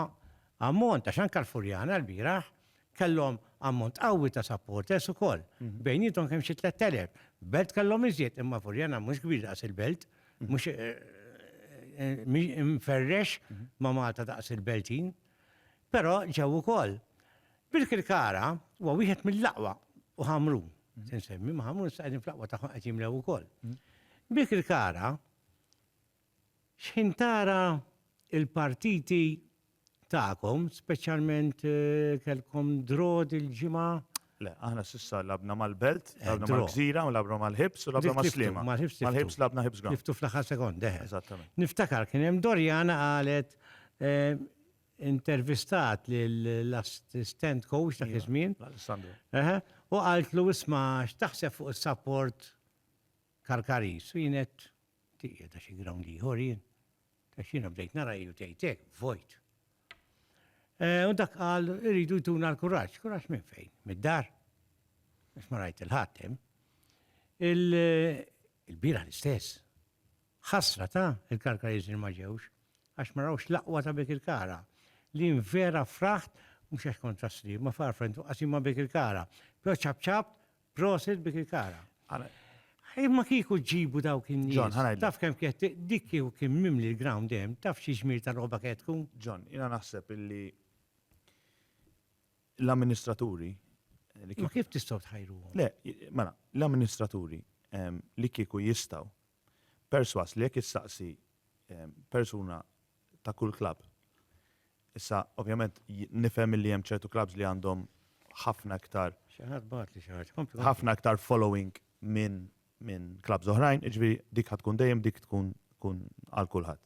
ammont għax anke l-Furjana lbieraħ kellhom ammont qawwi ta' supporters ukoll. Bejniethom kemm xi tlett elef. Belt kellhom iżjed imma Furjana mhux kbir daqs il-Belt, mhux imferrex ma' Malta daqs il-Beltin. Però ġew ukoll. Birkirkara huwa wieħed mill-aqwa u Ħamrun, se nsemmi, ma' Ħamrun issa qegħdin fl-aqwa tagħhom qed jimlew ukoll. Birkirkara x'ħin tara l-partiti tagħkom, speċjalment kellkom draw dil-ġimgħa? Le, aħna s'issa lagħbna mal-Belt, lagħbna mal-Gżira, lagħbna mal-Ħibs u lagħbna mas-Sliema. Mal-Ħibs lagħbna Ħibs Ground. Ħibs fl-aħħar sekonda. Eżattament. Niftakar kien hemm Doriana qalet intervistat lill-assistent coach dak iż-żmien. Alessandro. Eħe, u qaltlu isma' x'taħseb fuq is-support Karkaris. U jien għedt tieqed għax xi ground ieħor jien. Għax jiena bdejt nara hi u tgħid hekk, vojt. U dak qal iridu jtuna l-kuraġġ. Kuraġġ minn fejn? Mid-dar? Għax ma rajt il-ħadd hemm. Il-bieraħ l-istess. Ħasra ta, il-Karkariżni ma ġewx, għax ma rawx l-aqwa ta' Birkirkara. Lien vera fraħt, mhux għax kont tas-Sliema, ma f'għarfha intom qasim ma' Birkirkara. Però ċapċapt, prosit Birkirkara. Imma kieku ġġibu dawk in-nies, taf kemm kienet, dik kieku kien mimli l-ground hemm, taf xi ġmiel ta' logħba kienet tkun? John, jiena naħseb illi l-amministraturi. Ma kif tistgħu tħajruhom? Le, mela, l-amministraturi li kieku jistgħu Persważ li jekk issaqsi persuna ta' kull klabb, issa ovvjament nifhem illi hemm ċertu klabbs li għandhom ħafna iktar, ħafna iktar following minn klabbs oħrajn, jiġifieri dik ħa tkun dejjem dik tkun għal kulħadd.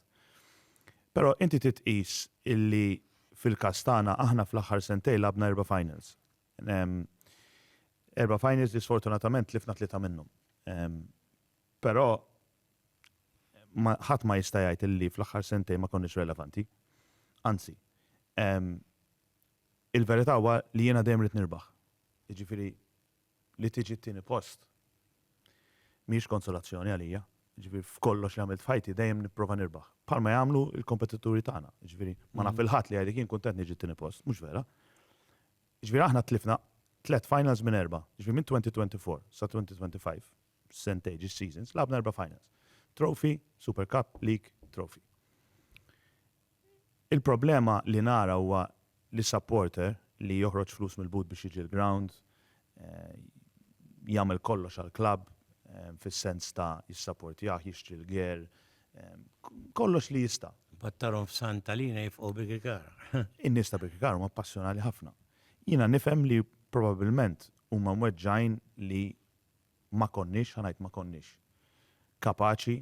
Però inti trid tqis illi fil-każ tagħna aħna fl-aħħar sentejn lagħabna erba' finals. Erba' finals li sfortunatament tlifna tlieta minnhom. Però ma ħadd ma jista' jgħid illi fl-aħħar sentejn ma konniex relevanti. Anzi, ehm, il-verità huwa li jiena dejjem rrid nirbaħ. Jiġifieri li tiġi t-tieni post mhijiex konsolazzjoni għalija. Jiġifieri f'kollox li għamilt f'ħajti dejjem nipprova nirbaħ. Bħalma jagħmlu l-kompetituri tagħna. Jiġifieri ma naf il-ħadd li jgħidlek jien kuntent niġi t-tieni post, mhux vera. Jiġifieri aħna tlifna tliet finals minn erba', jiġifieri minn 2024 sa 2025. sentej ġiex seasons, lagħabna erba' finals. Trophy, Super Cup, League, Trophy. Il-problema li nara huwa li supporter li joħroġ flus mill-but biex jiġi l-ground, eh, jagħmel kollox għall-klabb eh, fis-sens ta' jissapportjah, jixtri l-ger, eh, kollox li jista'. Pattarom f'Santa Lina jifqu Birkikar. In-nies ta' Birkikar huma passjonali ħafna. Jiena nifhem li probabbilment huma mweġġajn li ma konniex, ħa ngħid ma konniex, kapaċi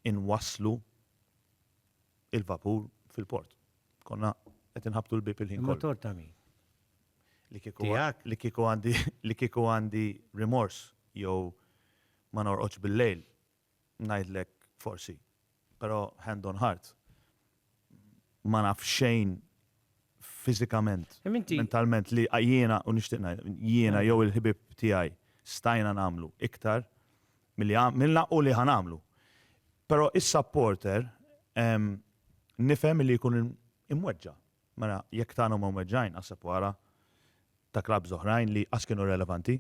inwasslu il-vapur fil-port. Konna qed inħabbtu l-bieb il-ħin kollu. Il-motor ta' min? Tiegħek? Li kieku għandi rimors jew ma norqodx bil-lejl ngħidlek forsi, però hand on heart, ma naf xejn fiżikament, mentalment li jiena, u nixtieq ngħidlek, jiena jew il-ħbieb tiegħi stajna nagħmlu iktar milli għamilna u li ħa nagħmlu. Però is-supporter nifhem li jkun imweġġa'. Mela, jekk tagħna huma mweġġgħin għas sepwara ta' klabbs oħrajn li qas kienu relevanti,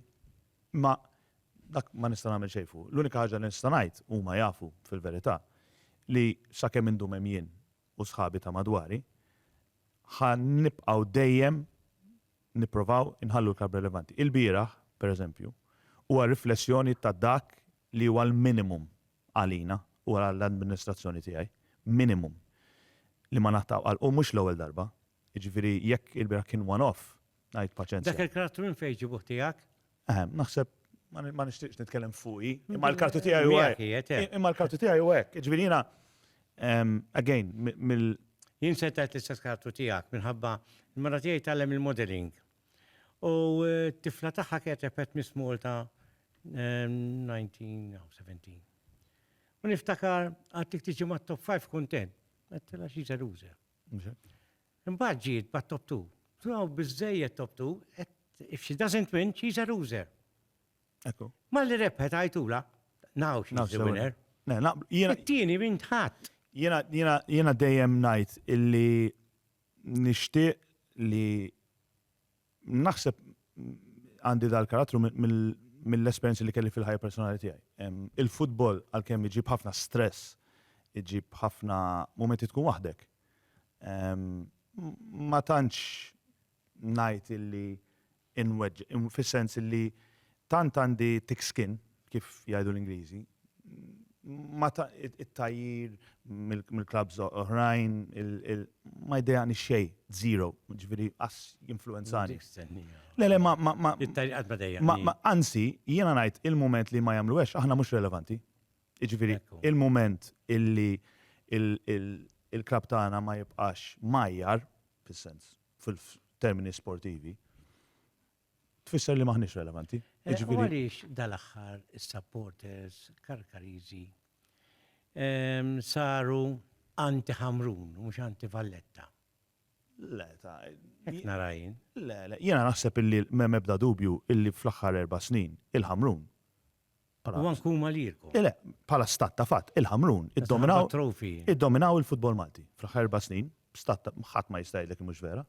imma dak ma nista' nagħmel xejn fuqu. L-unika ħaġa li nista' ngħid, huma jafu fil-verità, li sakemm indum hemm jien u sħabi ta' madwari, ħa nibqgħu dejjem nipprovaw inħallu l-klabb relevanti. Ilbieraħ, pereżempju, huwa riflessjoni ta' dak li huwa l-minimum għalina u għall-amministrazzjoni tiegħi, minimum, li ma naqta' għal u mhux l-ewwel darba. Jiġifieri jekk il-bieraħ kien one off, ngħid paċenzja. Dak il-karattru minn fejn ġibuh tiegħek? Eħe, naħseb ma nixtieqx nitkellem fuqi, imma l-karattru tiegħi huwa hekk. Imma l-karattru tiegħi huwa hekk. Jiġifieri jiena, again, mill. Jien se ngħid l-istess karattru tiegħek minħabba l-mara tiegħi tgħallem il-modelling. U t-tifla tagħha ketebet Miss Malta 1917. U niftakar għad dik tiġi ma' top 5 kuntent. Għattila xi ġeluża. Imbagħad ġiet bat top 2. Tunaw biżejjed top 2, if she doesn't win, she's a loser. Ekku. Ma li rebħet għajtula, now she's the winner. Jiena. It-tieni minn tħadd. Jiena dejjem ngħid illi Nixtieq li naħseb għandi dal-karattru mill-esperjenzi li kelli fil-ħajja personali tiegħi. Il-futbol għalkemm iġib ħafna stress, iġib ħafna mumenti tkun waħdek. Ma tantx ngħid illi inweġġ, fis-sens li tant għandi thick skin, kif jgħidu l-Ingliżi, ma ta, it-tgħajjir mill-klabbs oħrajn, il, ma jdejjaqnix xejn, zero, jiġifieri qas jinfluwenzani. Le, le, ma, ma, ma. It-tgħajjir qatt ma dejjaqni. Anzi, jiena ngħid il-mument li ma jagħmluhiex aħna mhux relevanti. Jiġifieri il-mument illi il-klabb tagħna ma jibqax mgħajjar, fis-sens f'termini sportivi, tfisser li maħniex relevanti. Eh, jiġifieri- għaliex dal-aħħar is-supporters karkarizi ehm, saru anti-ħamrun, mux anti-valletta. Le, ta' narajn. Le, le, jena naħseb illi mem ebda dubju illi fl-axħar erba snin il-ħamrun U anke huma lilkom. Le, bħala stat ta' fatt, il-Ħamrun iddominaw iddominaw il-futbol Malti fl-aħħar erba' snin, stat ħadd ma jista' jgħidlek mhux vera.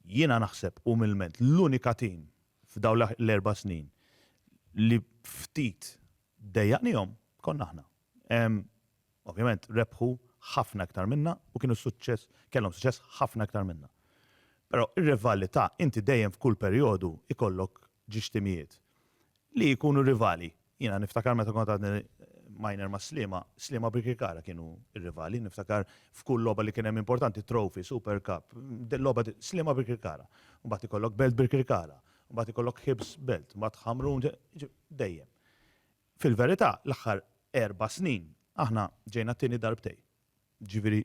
Jiena naħseb umilment l-unika tim f'dawn l-erba' snin li ftit dejjaqnihom konna aħna. Ovvjament rebħu ħafna iktar minna u kienu suċċess, kellhom suċċess ħafna iktar minna. Però ir-rivalità inti dejjem f'kull perjodu ikollok ġiex timijiet li jkunu rivali. Jiena niftakar meta kont għadni minor ma' Sliema, Sliema Birkirkara kienu r-rivali, niftakar f'kull logħba li kien hemm importanti, Trophy, Super Cup, logħba Sliema Birkirkara. Mbagħad ikollok Belt Birkirkara, mbagħad ikollok Hibs Belt, mbagħad Ħamrun, dejjem. Fil-verità, l-aħħar erba' snin aħna ġejna t-tieni darbtejn. Ġifieri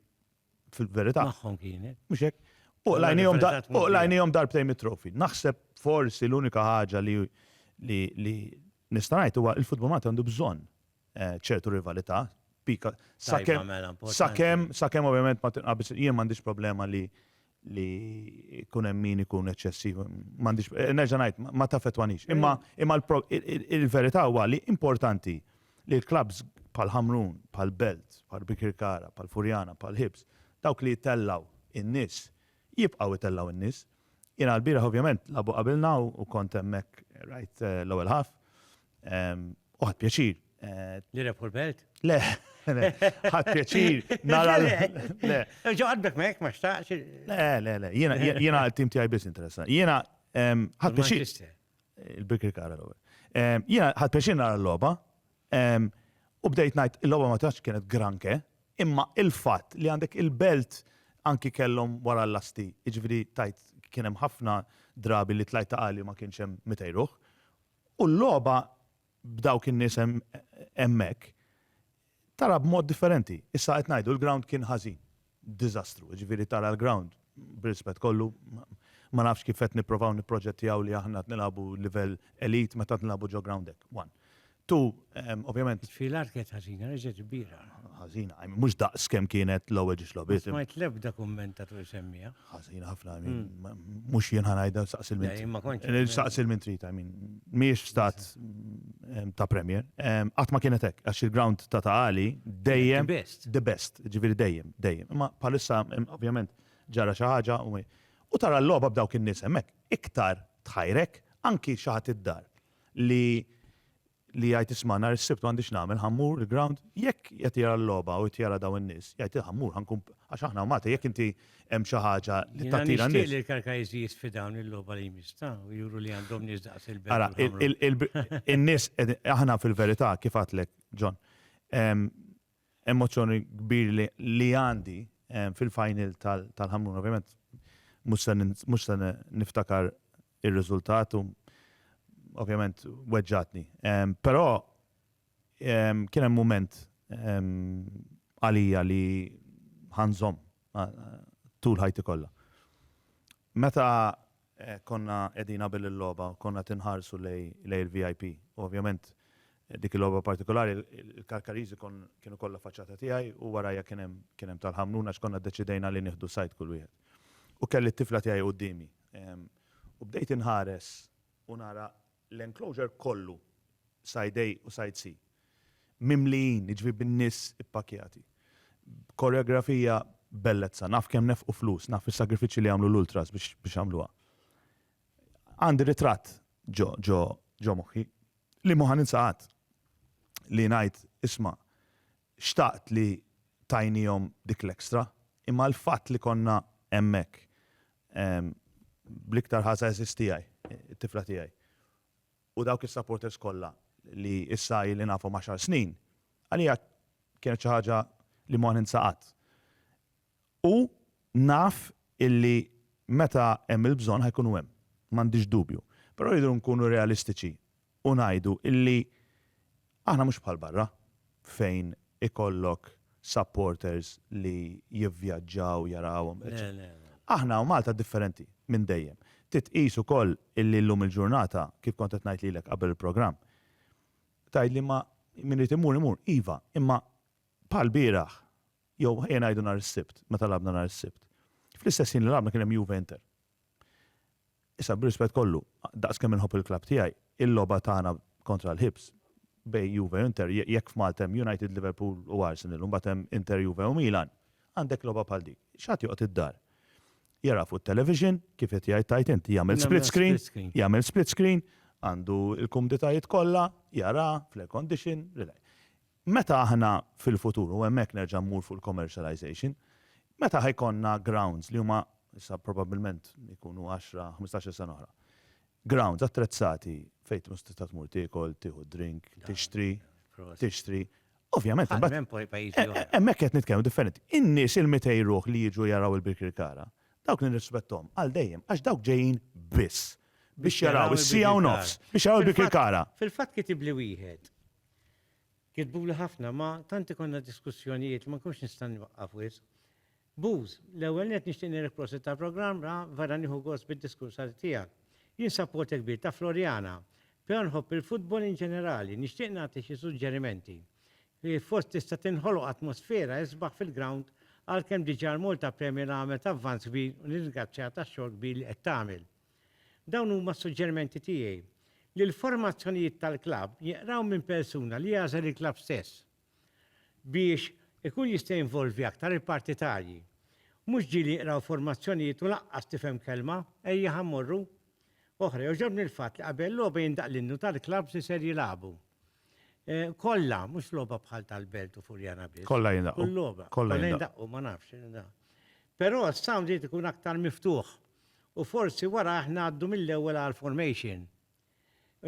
fil-verità. Magħhom kienet. Mhux hekk. Uqlajnihom darbtejn mit-trofi. Naħseb forsi l-unika ħaġa li li nista' ngħid huwa il-futbol Malti għandu bżonn eh, ċertu rivalità. Pika sakemm mela, sakemm sakemm ovvjament ma tinqabis jien m'għandix problema li li jkun hemm min ikun eċċessiv, m'għandix, nerġa' ngħid, ma taffettwanix. Imma imma il-verità huwa li importanti li l-klabs bħal Ħamrun, bħal Belt, bħal Bikirkara, bħal Furjana, bħal Ħibs, dawk li jtellgħu in-nies, jibqgħu jtellgħu in-nies. Jiena l-bieraħ ovvjament labu qabilna u kont hemmhekk rajt l-ewwel ħaf. Uħad pjaċir. Li rebħu l-belt? Le, ħad pjaċir. Nara l-le. Ġoħadbek me, ma xtaqx. Le, le, le. Jena għal-tim tijaj bis interessa. Jena ħad pjaċir. Il-Birkir Kara l Jena ħad pjaċir nara l-loba. U bdejt najt, il-loba ma tax kienet granke, imma il-fat li għandek il-belt anki kellhom wara l-lasti, iġviri tajt kienem ħafna drabi li tlajta għali ma kienx hemm mitejruħ. U l-logħba b'dawk in-nies hemmhekk tara b'mod differenti. Issa qed ngħidu l-ground kien ħażin. Diżastru. Jiġifieri tara l-ground, b'rispett kollu, ma nafx kif qed nipprovaw nipproġettjaw li aħna qed nilagħbu livell elite meta qed nilagħbu ġo ground hekk, one. Two, ovvjament. It-tfil art kienet ħażina, reġgħet kbira. Ħażina, mhux daqs kemm kienet l-ewwel ġiex logħbiet. Ma smajt l-ebda kumment ta' Troy Semmiħ. ħażin ħafna, mux jien ħanajda saqsil minn. Saqsil minn trita, minn. Miex stat ta' premier. Għatma kienet hekk, għax il-ground ta' ta' għali dejjem. The best, ġiviri dejjem, dejjem. Ma palissa, ovvjament, ġara xaħġa u tara l-loba b'dawk in-nies hemmhekk. Iktar tħajrek anki xaħat id-dar li li jgħid isma' nhar is-Sibt m'għandix nagħmel, ħa mmur il-ground, jekk qed jara l-logħba u qed jara dawn in-nies, jgħid ħa mmur, ħa nkun għax aħna u Malta jekk inti hemm xi ħaġa li tattira n-nies. Jiena nixtieq li l-Karkajżi jisfidawni l-logħba li jmiss ta' u juru li għandhom nies daqs il-belt. Ara, in-nies aħna fil-verità kif għedtlek, John, Emozzjoni kbir li li għandi fil-final tal tal-Ħamrun ovvjament mhux se mhux se niftakar ir-riżultat u ovvjament weġġgħatni. Però kien hemm mument għalija li ħa nżomm tul ħajti kollha. Meta konna qegħdin qabel il-logħba konna qed inħarsu lejn il-VIP u ovvjament dik il-logħba partikolari il-Karkariżi kienu kollha faċċata tiegħi u warajja kien hemm kien hemm tal-Ħamrun għax konna ddeċidejna li nieħdu side kull wieħed. U kelli t-tifla tiegħi quddiemi u bdejt inħares u nara l-enclosure kollu, side A u side C, mimlijin, jiġifieri bin-nies ippakjati, b'koreografija b'bellezza. Naf kemm nefqu flus, naf is-sagrifiċċji li għamlu l-ultras biex għamluha. Għandi ritratt ġo moħħi, li mhu ħa ninsa qatt, li ngħid, isma', Xtaqt li tajniehom dik l-extra, imma l-fatt li konna hemmhekk, bl-iktar ħa żgħażiż tiegħi, it-tifla tiegħi, u dawk is-supporters kollha li issa ili nafhom għaxar snin, għalija kienet xi ħaġa li ma ninsa qatt. U naf illi meta hemm il-bżonn ħa jkunu hemm, m'għandix dubju. Però rridu nkunu realistiċi u ngħidu illi aħna mhux bħal barra fejn ikollok supporters li jivvjaġġaw jarawhom, eċċetera. Aħna u Malta differenti minn dejjem. Trid tqis ukoll illi llum il-ġurnata, kif kont qed ngħid lilek qabel il-programm, tgħidli ma min irid imur imur, iva, imma bħall-bieraħ Jew ejja ngħidu nhar is-Sibt, meta lagħabna nhar is-Sibt. Fl-istess ħin li lagħabna kien hemm Juve Inter. Issa b'rispett kollu, daqs kemm inħobb il-klabb tiegħi, il-logħba tagħna kontra l-Hibs bejn Juve u Inter, jekk f'Malta hemm United, Liverpool u Arsenal u mbagħad hemm Inter, Juve u Milan, għandek logħba bħal dik. Xi ħadd joqgħod id-dar jara fuq it-television, kif qed jgħid tgħid int, jagħmel split screen, jagħmel split screen, għandu l-kumditajiet kollha, jara fl-air condition, Meta aħna fil-futur, u hemmhekk nerġa' mmur fuq il-commercialization, meta ħa jkollna grounds li huma, issa probabbilment jkunu għaxra, ħmistax-il sena oħra, grounds attrezzati fejn tkun tista' tmur tiekol, tieħu d-drink, tixtri, tixtri, ovvjament imbagħad. Ħadd m'hemm poi pajjiżi oħra. Hemmhekk qed nitkellmu differenti. In-nies il-mitej ruħ li jiġu jaraw il-Birkirkara, dawk nirrispetthom għal dejjem għax dawk ġejjin biss biex jaraw is-siegħa u nofs, biex jaraw il-Birkirkara. Fil-fatt kitibli wieħed, Kitbuli ħafna ma tant ikollna diskussjonijiet ma nkunx nista' nwaqqaf wisq. Buz, l-ewwel nett nixtieq ngħidlek prosit tal-programm ra vera nieħu gost bid-diskursati tiegħek. Jien sapporter kbir ta' Floriana, però nħobb il-futbol in ġenerali, nixtieq nagħti xi suġġerimenti. Fost tista' tinħoloq atmosfera isbaħ fil-grawnd għalkemm diġà l-Malta Premier għamlet avvanz kbir u nirringrazzjaha tax-xogħol kbir li qed tagħmel. Dawn huma s-suġġerimenti tiegħi, li l-formazzjonijiet tal-klabb jinqraw minn persuna li jagħżel il-klabb stess biex ikun jista' jinvolvi aktar il-partitarji. Mhux ġieli jinqraw formazzjonijiet u lanqas tifhem kelma, ejjeħ mmorru. Oħra, jogħġobni l-fatt li qabel logħba jindaqq l-innu tal-klabbs li ser jilagħbu. Kollha, mhux logħba bħal tal-Belt u Furjana biss. Kollha jindaqqu. Kull logħba. Kollha jindaqqu, ma nafx. Però s-sound irid ikun aktar miftuħ. u forsi warajh ngħaddu mill-ewwel għall-formation.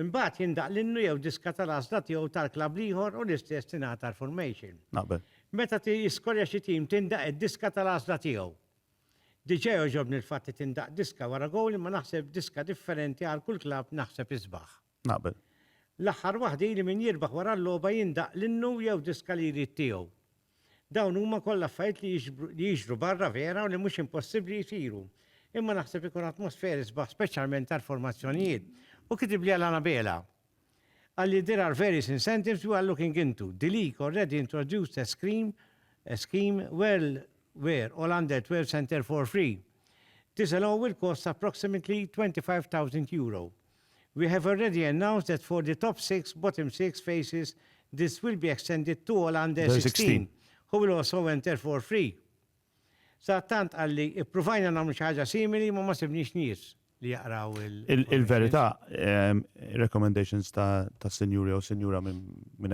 Imbagħad jindaqq l-innu jew diska tal-għażla tiegħu tal-klabb l-ieħor u l-istess tingħad għall-formation. Naqbel. Meta jiskorja xi tim tindaqq id-diska tal-għażla tiegħu. Diġà jogħġobni l-fatt li tindaqq diska wara gowl imma naħseb diska differenti għal kull klabb naħseb isbaħ. Naqbel. L-aħħar waħda hi li min jirbaħ wara l-logħba jindaqq l-innu jew diska li jrid tiegħu. Dawn huma kollha affarijiet li jiġru barra vera u li mhux impossibbli jsiru. Imma naħseb ikun atmosferi sbaħ speċjalment għall-formazzjonijiet. Hu kitibli għal Anabela. Qalli there are various incentives we are looking into. The league already introduced a scheme a scheme well where all under 12 can enter for free. This alone will cost approximately 25,000 euro. We have already announced that for the top six, bottom six faces this will be extended to all under 16 who will also enter for free. Sadattant qalli ippruvajna nagħmlu xi ħaġa simili imma ma sibniex nies li jaqraw il. Il-verità, ir-recommendations ta' sinjur jew sinjura minn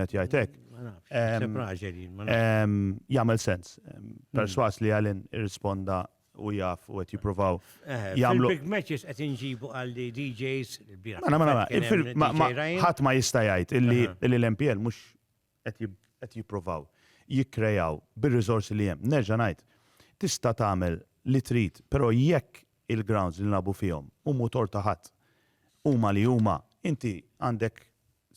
qed jgħid hekk. Ma nafx, naħseb raġel jien. Jagħmel sens. Persważ li Alan irrisponda u jaf u qed jippruvaw jagħmlu. Big matches qed inġibu għal li DJs ħadd ma jista' jgħid illi l-MPL mhux qed jippruvaw jikkrejaw bir-riżorsi li hemm. Nerġa' ngħid, tista' tagħmel li trid, però jekk il-grounds li nilagħbu fihom u mhu tort ta' ħadd huma li huma, inti għandek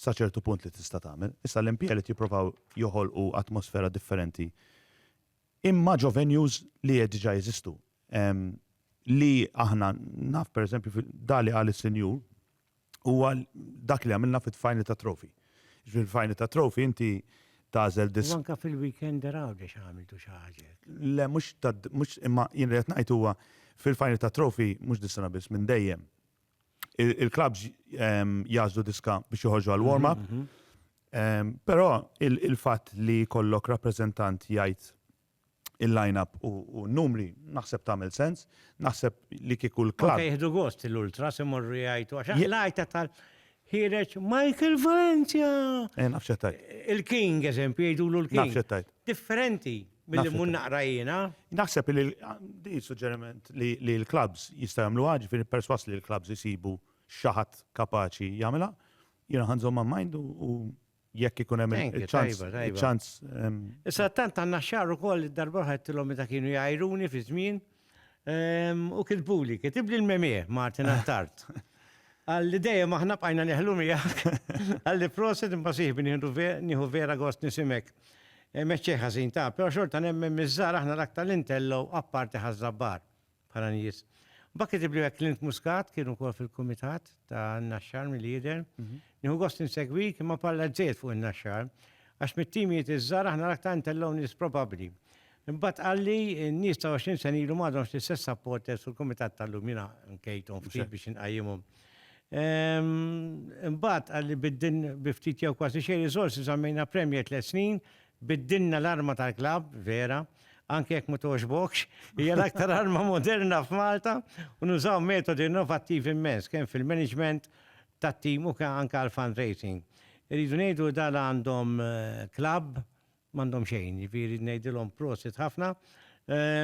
sa ċertu punt li tista' tagħmel. Issa l-MPL qed jippruvaw joħolqu atmosfera differenti Imma ġo venues li diġà jeżistu. Li aħna naf pereżempju da li qal is-Sinjur huwa dak li għamilna fit-tfajni ta' trofi. Ġifieri tfajni ta' trofi inti tagħżel dis. Anke fil-weekend għawdex għamiltu xi ħaġa. Le mhux imma jien li qed ngħid huwa fil-tfajni ta' trofi mhux dis-sena biss minn dejjem. il-klabs jazdu diska biex joħorġu għal warm-up. Mhm, mhm. Però il-fatt li kollok rappreżentant jgħid il-line-up u numri naħseb tagħmel sens, naħseb li kieku l-klab. Anke jieħdu gost l-ultra se morru jgħidu għax l-għajta tal ħireġ Michael Valencia. Eh, nafxettajt. Il-King, eżempju, jgħidulu l-King. Nafxettajt. differenti milli mmur naqra jiena. Naħseb li di suġġeriment li l-klabbs jistgħu jagħmluha, ġifieri persważ li l-klabbs isibu xi ħadd kapaċi jagħmilha. Jiena ħa nżommha mind u jekk ikun hemm il-ċans. Il-ċans. Issa tant għandna xahar ukoll id-darba oħra għedtilhom meta kienu jgħajruni fi żmien. U kitbuli, kitibli l-memie, Martin Attard. Għalli dejjem aħna bqajna neħlu miegħek. Għalli proset imma siħbi nieħu vera gost nisimek. Meċċej ħażin ta', però xorta nemmen miż-żgħar aħna l-aktar li ntellgħu apparti ħaż-żabbar, bħala nies. Mbagħad kitibli hekk Clint Muscat kien ukoll fil-kumitat ta' Naxxar milli jidher. Nieħu gost insegwik imma parla żżejjed fuq in-Naxxar għax mit-timijiet iż-żgħar aħna l-aktar ntellgħu nies probabbli. Imbagħad qal li n-nies ta' 20 sena ilu m'għadhomx l-istess supporters u l-kumitat tal-lum jiena nkejthom ftit biex inqajjimhom. Imbagħad qal li biddin bi ftit jew kważi xejn riżorsi żammejna Premier tliet snin, biddilna l-arma tal-klabb, vera, anke jekk ma togħġbokx, hija l-aktar arma moderna f'Malta u nużaw metodi innovattivi immens kemm fil-management tat-tim u anke għall-fundraising. Irridu ngħidu li dan għandhom klabb M'għandhom xejn, jiġifieri ngħidilhom prosit ħafna.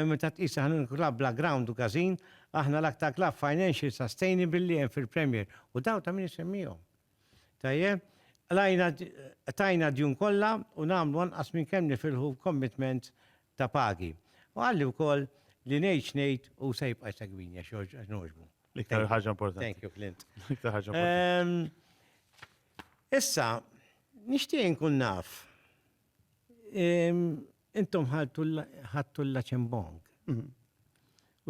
Meta tqis li aħna l-klabb bla ground u każin, aħna l-aktar klabb financial sustainable li hemm fil-Premier u dawn ta' min isemmihom. Tajjeb? Qlajna tajna d-djun kollha u nagħmlu anqas minn kemm nifilħu commitments ta' pagi. U qalli wkoll li ngħid x'ngħid hu se jibqa' jsegwini għax nogħġbu. L-iktar ħaġa importanti. Thank you, Clint. L-iktar ħaġa importanti. Issa, nixtieq inkun naf, intom ħadtu l-Laċembong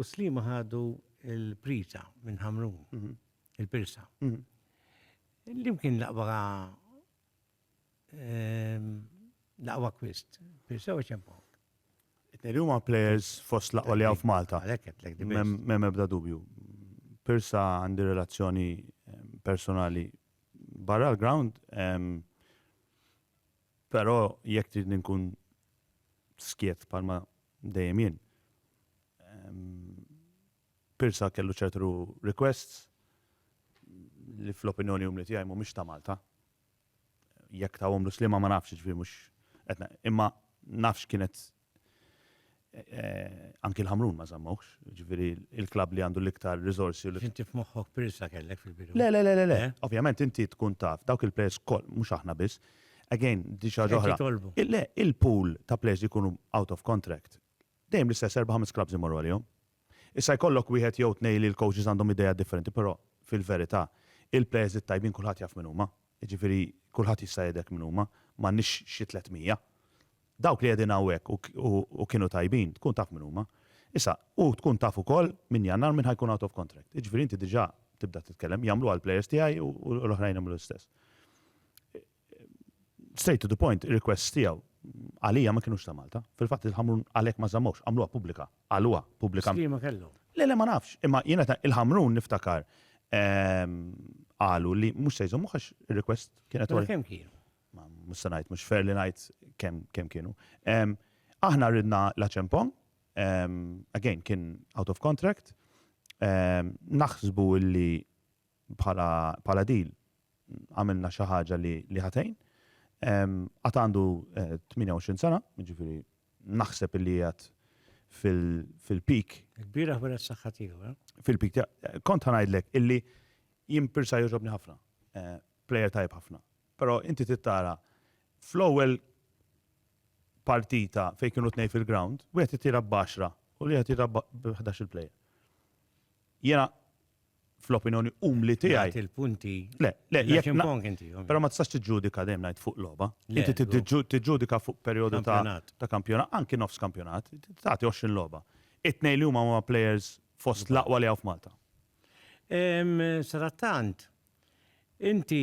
u Sliema ħadu l-Priża minn Ħamrun, il-Pirsa. L-imkien laqwa laqwa kwist, Pirsa u Ċembong. It-tnejn huma players fost l-aqwa li hawn f'Malta. M'hemm ebda dubju. Pirsa għandi relazzjoni personali barra l-ground, però jekk tridni nkun skiet bħalma dejjem jien. Pirsa kellu ċertu requests li fl-opinjoni umli tiegħi mhumiex ta' Malta. jekk tawhomlu sliema ma nafx, jiġifieri mhux qed na- imma naf x'kienet eh, anki l-Ħamrun ma żammawhx, jiġifieri il-klabb li għandu l-iktar riżorsi u l-iktar Inti f'moħħok Pirsa kellek fil-bidu. Le, le, le, le, le. Eh? Ovvjament inti tkun taf, dawk il-players koll, mhux aħna biss. Again, di xi ħaġa Qed oħra. jitolbu. Il- Le, il-pool ta' players li jkunu out of contract, Dejjem l-istess erba' ħames clubs imorru għalihom. Issa jkollok wieħed jew tnej li l-coaches għandhom ideat differenti però fil-verità il-players it-tajbin kulħadd jaf min huma. Jiġifieri kulħadd jista' jgħidlek min huma, m'għandniex xi tliet mija. Dawk li qegħdin hawnhekk u u kienu tajbin tkun taf min huma. Issa, u tkun taf ukoll minn Jannar min ħa jkun out of contract. Jiġifieri inti diġà tibda titkellem, jagħmluha l-players tiegħi u l-oħrajn jagħmlu l-istess. Straight to the point, ir-requests tiegħu għalija ma kienux ta' Malta. Fil-fatt il-Ħamrun għalhekk ma żammhomx, għamluha pubblika, qaluha pubblika. X'liema kellhom? Le le ma nafx, imma jiena ta' il-Ħamrun niftakar qalu li mhux se jżommuh għax ir-request kienet. Mela kemm kienu? Mhux se ngħid, mhux fair li ngħid kemm kienu. Aħna ridna l-Acheampong, again kien out of contract, naħsbu li bħala bħala deal għamilna xi ħaġa li li ħa tgħin. Qatt għandu 28 sena, jiġifieri naħseb illi qiegħed fil-peak. Il-bieraħ wara s-saħħa tiegħu, eh? Fil-peak tiegħu. Kont ħanajdlek illi jien Pirsa jogħġobni ħafna. Eh, player tajb ħafna. Però inti tittara fl-ewwel partita fejn kienu tnej fil-ground, wieħed ittira b'għaxra u li qed jira b'11 il-player. Jiena fl-opinjoni umli tiegħi. Jagħti l-punti. Le, le, jekk impong inti. Però ma tistax tiġġudika dejjem ngħid fuq logħba. Inti tiġġudika fuq perjodu ta' ta' kampjonat, anki nofs kampjonat, tagħti 20 logħba. It-tnejn li huma huma players fost l-aqwa li hawn f'Malta. Sarattant, inti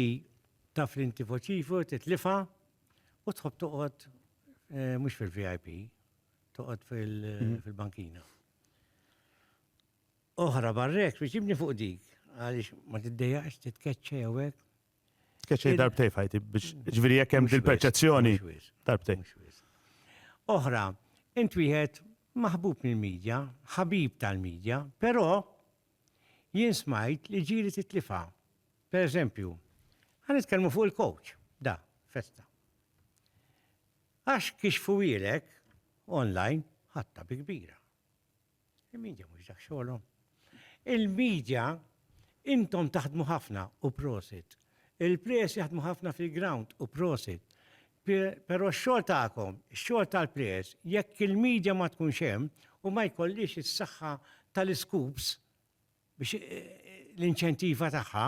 taf li inti foċifu titlifha u tħobb toqgħod mhux fil-VIP, toqgħod mhm. fil-bankina. oħra barra hekk biex jibni fuq dik għaliex ma tiddejjaqx titkeċċa jew hekk. Tkeċċej darbtej fajti biex ġifieri jekk hemm dil-perċezzjoni darbtej. Oħra, int wieħed maħbub mill-medja, ħabib tal-medja, però jien smajt li ġiri titlifa. Per eżempju, għan nitkellmu fuq il-coach, da, festa. Għax kixfu fuwilek online ħatta bi kbira. Il-media mhux dak xogħolhom. Il-media intom taħdmu ħafna u prosit. Il-players jaħdmu ħafna fil-ground u prosit. Però x-xogħol tagħkom, x-xogħol tal-players, jekk il-media ma tkunx hemm u ma jkollix is-saħħa tal-iskups biex l-inċentiva tagħha,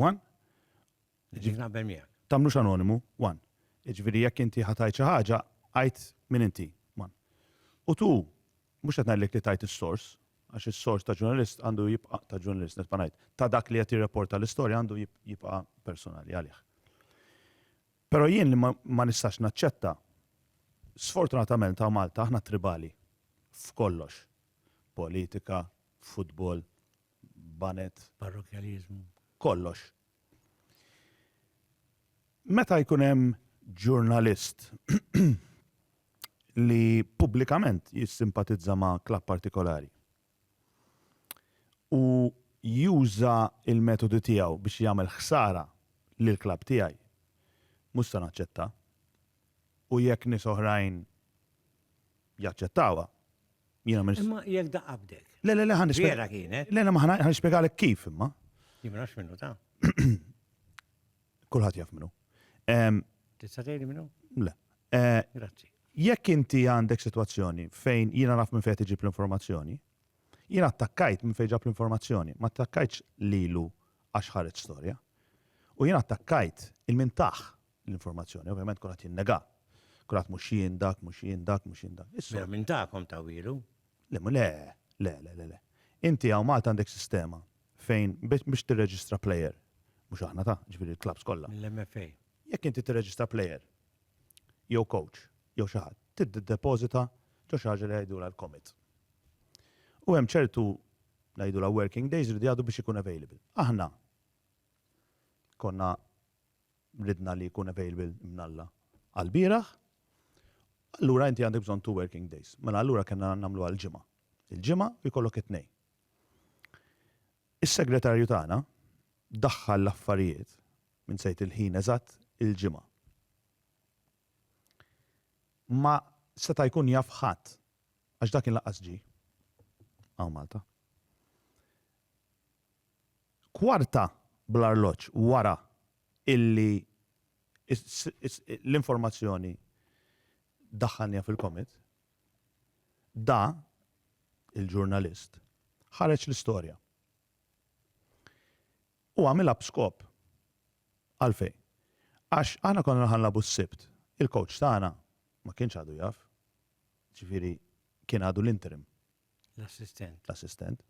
One? Ġifieri naqbel miegħek. Tagħmlux anonimu, one. Jiġifieri jekk inti ħa tgħid xi ħaġa, għid min inti, one. U two, mhux qed ngħidlek li tgħid is-sors, għax is-sors ta' ġurnalist għandu jibqa' ta' ġurnalist nibqa' ngħid, ta' dak li qed jirreporta l-istorja għandu jibqa' personali għalih. Però jien li ma nistax naċċetta, sfortunatament ta' Malta aħna tribali f'kollox. Politika, futbol, banet. Parrokjaliżmu. Kollox. Meta jkun hemm ġurnalist li pubblikament jissimpatizza ma' klabb partikolari u juża l-metodi tiegħu biex jagħmel ħsara lill-klabb tiegħi, mhux se naċċetta. U jekk nies oħrajn jaċċettawha. Jiena ma Imma jekk da qabdek. Le, le, le, ħan Vera kienet. Le, le, ma ħan nispjegalek kif imma. Jien ma nafx minnu ta'. Kulħadd jaf minnu. Tista' tgħidli minnu? Le. Eh, Grazzi. Jekk inti għandek sitwazzjoni fejn jiena naf minn fejn tiġib l-informazzjoni, jiena attakkajt minn fejn ġab l-informazzjoni, ma attakkajtx lilu għax ħareġ storja. U jiena attakkajt il-mintaħ l-informazzjoni. Ovvjament kulħadd jinnegà. Kulħadd mhux jien dak, mhux jien dak, mhux jien dak. Is-soltu. Mela minn tagħkom tawhielu? Le, mhu le. Le, le, le, le. Inti hawn Malta għandek sistema fejn biex tirreġistra plejer, mhux aħna ta', jiġifieri l-klabbs kollha. Mill-MFA. Jekk inti tirreġistra plejer jew coach jew xi ħadd, tiddepożita ġo xi ħaġa li jgħidulha l-commit. U hemm ċertu ngħidulha working days li jridu biex ikun available. Aħna konna ridna li jkun available Ibn Alla għall-bieraħ, allura inti għandek bżonn two working days. Mela allura kellna nagħmluha l-Ġimgħa. Il-Ġimgħa u jkollok it-Tnejn. Is-segretarju tagħna daħħal l-affarijiet, minsejt il-ħin eżatt, il-Ġimgħa. Ma seta' jkun jaf ħadd għax dak kien lanqas ġie hawn Malta. Kwarta bl-arloġġ wara illi l-informazzjoni daħħalniha fil-Comet, Da, il-ġurnalist, ħareġ l-istorja. U għamilha b'skop. Għalfejn? Għax aħna konna raħ nilagħbu s-Sibt. Il-coach tagħna ma kienx għadu jaf. Ġifieri kien għadu l-interim. L-assistent. L-assistent.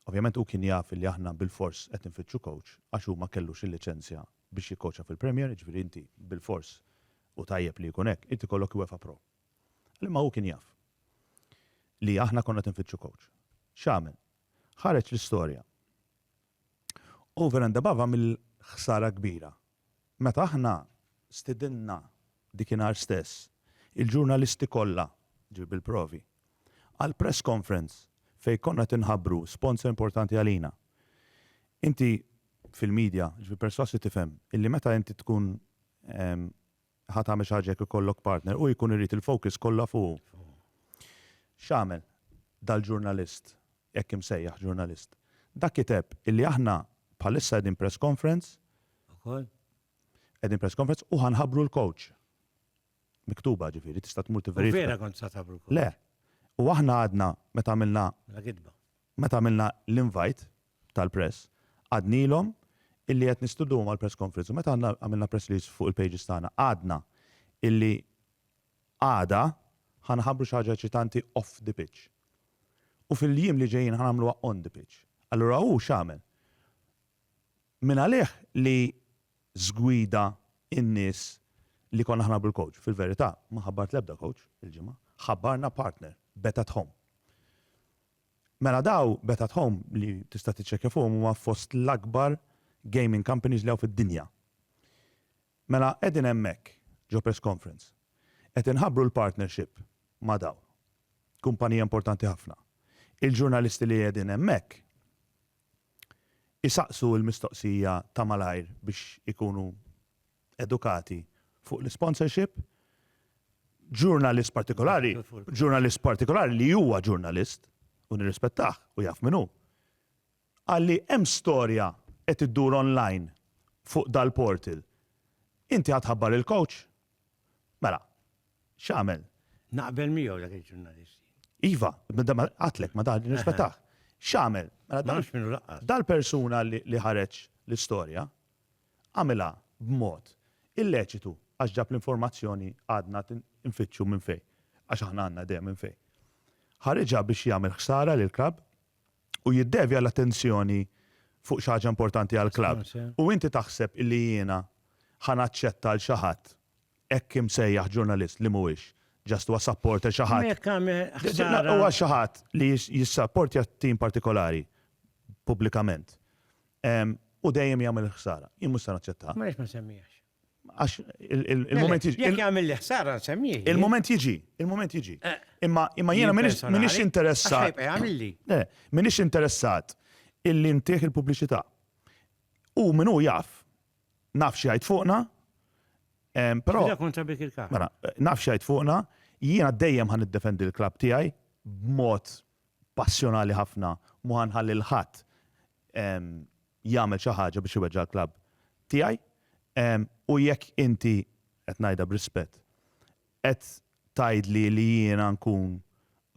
Ovvjament hu kien jaf li aħna bilfors qed infittxu coach għax hu ma kellux il-liċenzja biex jikkoċja fil-Premier, jiġifieri inti bilfors, u tajjeb li jkun hekk, irid ikollok UEFA Pro. Imma hu kien jaf li aħna konna qed infittxu coach. X'għamel? Ħareġ l-istorja. Over and above għamel ħsara kbira Meta aħna stidinna dikinhar stess il-ġurnalisti kollha, ġib il-provi, għal press conference fejn konna qed inħabbru sponsor importanti għalina. Inti fil-media, ġifieri persważ li tifhem illi meta inti tkun Ħa tagħmel xi ħaġa jekk ikollok partner, hu jkun irid il-focus kollha fuqu. X'għamel dal-ġurnalist, hekk imsejjaħ ġurnalist? Dak kiteb illi aħna bħalissa qegħdin press conference, Ukoll? qegħdin press conference u ħa nħabbru l-coach. Miktuba ġifieri, tista' tmur U tiverifika. vera kont sa tabru kol. Le. U aħna għadna meta għamilna, La gidba. meta għamilna l-invite, tal-press. Għadnielhom illi qed nistudduhom għall-press conference u meta aħna għamilna press release fuq il-pages tagħna għadna illi għada ħa nħabbru xi ħaġa eċitanti off the pitch. U fil-jiem li ġejjin ħa nagħmluha on the pitch. Allura hu x'għamel? Mingħalih li żgwida n-nies li konna ħa nħabbru l-coach. Fil-verità ma ħabbart l-ebda coach il-ġimgħa. Ħabbarna partner, Bet at Home. Mela daw, Bet at Home, li tista' tiċċekkja fuqhom huma fost l-akbar gaming companies li hawn fid-dinja. Mela qegħdin hemmhekk ġo press conference qed inħabbru l-partnership ma' dawn. Kumpanija importanti ħafna. Il-ġurnalisti li qegħdin hemmhekk isaqsu l-mistoqsija ta' malajr biex ikunu edukati fuq l-isponsorship, ġurnalist partikolari, ġurnalist partikolari li huwa ġurnalist u nirrispettah u jaf minnu. Għalli hemm storja qed iddur online fuq dal-portal. Inti ħadħabbar il-coach? Mela, x'għamel? Naqbel miegħu dak il-ġurnalist. Iva, għatlek ma dan nirrispettah. X'għamel? Mela, Dal-persuna li ħareġ l-istorja, għamilha b'mod illeċitu għax ġab l-informazzjoni għadna qed infittxu minn fejn, għax aħna għandna idea minn fejn. Ħariġha biex jagħmel ħsara lill-klabb u jiddevja l-attenzjoni fuq xi ħaġa importanti għall-klabb. U inti taħseb illi jiena ħa naċċetta lil xi ħadd Hekk imsejjaħ ġurnalist li mhuwiex just huwa supporter xi ħadd. Imma jekk għamel ħsara. Huwa xi ħadd li jissapportja tim partikolari pubblikament u dejjem jagħmel ħsara. Jien mhux se naċċettaha. Għaliex ma semmiehax? Għax il-moment jiġi. Jekk jagħmel li ħsara semmihi. Il-moment jiġi, il-moment jiġi. Imma jiena m'iniex interessat. M'iniex interessat illi ntih il-pubbliċità. U min hu jaf naf x'jgħid fuqna, però. Ġieda kontra bik il-kaħ. Mela, naf x'jgħid fuqna, jiena dejjem ħan niddefendi l-klabb tiegħi b'mod passjonali ħafna, mhu ħanħalli lil ħadd jagħmel xi ħaġa biex iweġġa' l-klabb tiegħi. U jekk inti, qed ngħidha b'rispett, Qed tgħidli li jiena nkun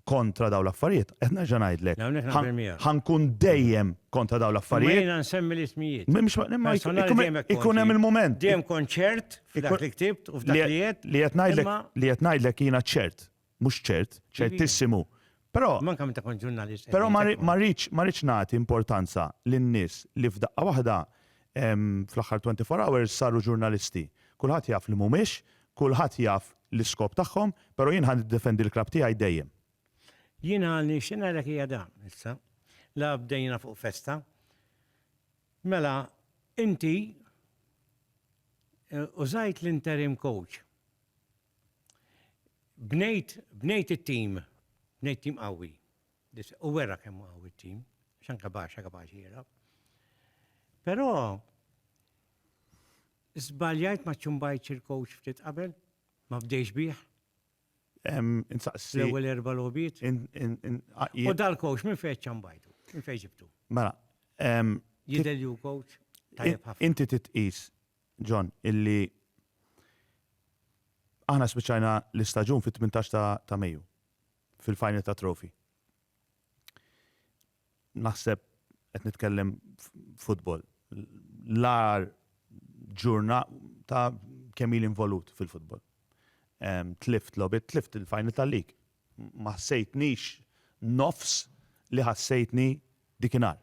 kontra dawn l-affarijiet? Qed nerġa' ngħidlek. Hawnhekk naqbel miegħek. Ħa nkun dejjem kontra dawn l-affarijiet. Imma jiena nsemmi l-ismijiet. Mhux ma, imma jkun hemm il-mument. Dejjem kont ċert f'dak li ktibt u f'dak li għedt. Li qed ngħidlek, li qed ngħidlek jiena ċert, mhux ċert, ċertissimu Però, Manka meta kont ġurnalist. però ma ri- ma rridx ma rridx nagħti importanza lin-nies li f'daqqa waħda em, fl-aħħar 24 hours saru ġurnalisti. Kulħadd jaf li mhumiex, kulħadd jaf l-iskop tagħhom, però jien ħa niddefendi l-klabb tiegħi dejjem. Jiena nixtieq ngħidlek hija dan issa. La bdejna fuq festa. Mela, inti eh, użajt l-interim coach. Bnejt, bnejt it-tim, bnejt tim qawwi. U wera kemm qawwi t-tim, xan kapaxa kapaxi jera. Però żbaljajt ma ċumbajt il-coach ftit qabel, ma bdejx bih. Insaqsi. L-ewwel erba' lobiet. U dal-coach minn fejn ċambajtu, minn fejn ġibtu. Mela. Jidel ju coach. Inti titqis John, illi aħna spiċċajna l-istaġun fit-tmintax ta' ta' Mejju fil-final ta' Trophy. Naħseb qed nitkellem futbol. L-ar ġurna ta' kemm il involut fil-futbol. Em, Tlift lobit, tlift il-final tal-lig. Ma ħsejtnix nofs li ħassejtni Dikinhar.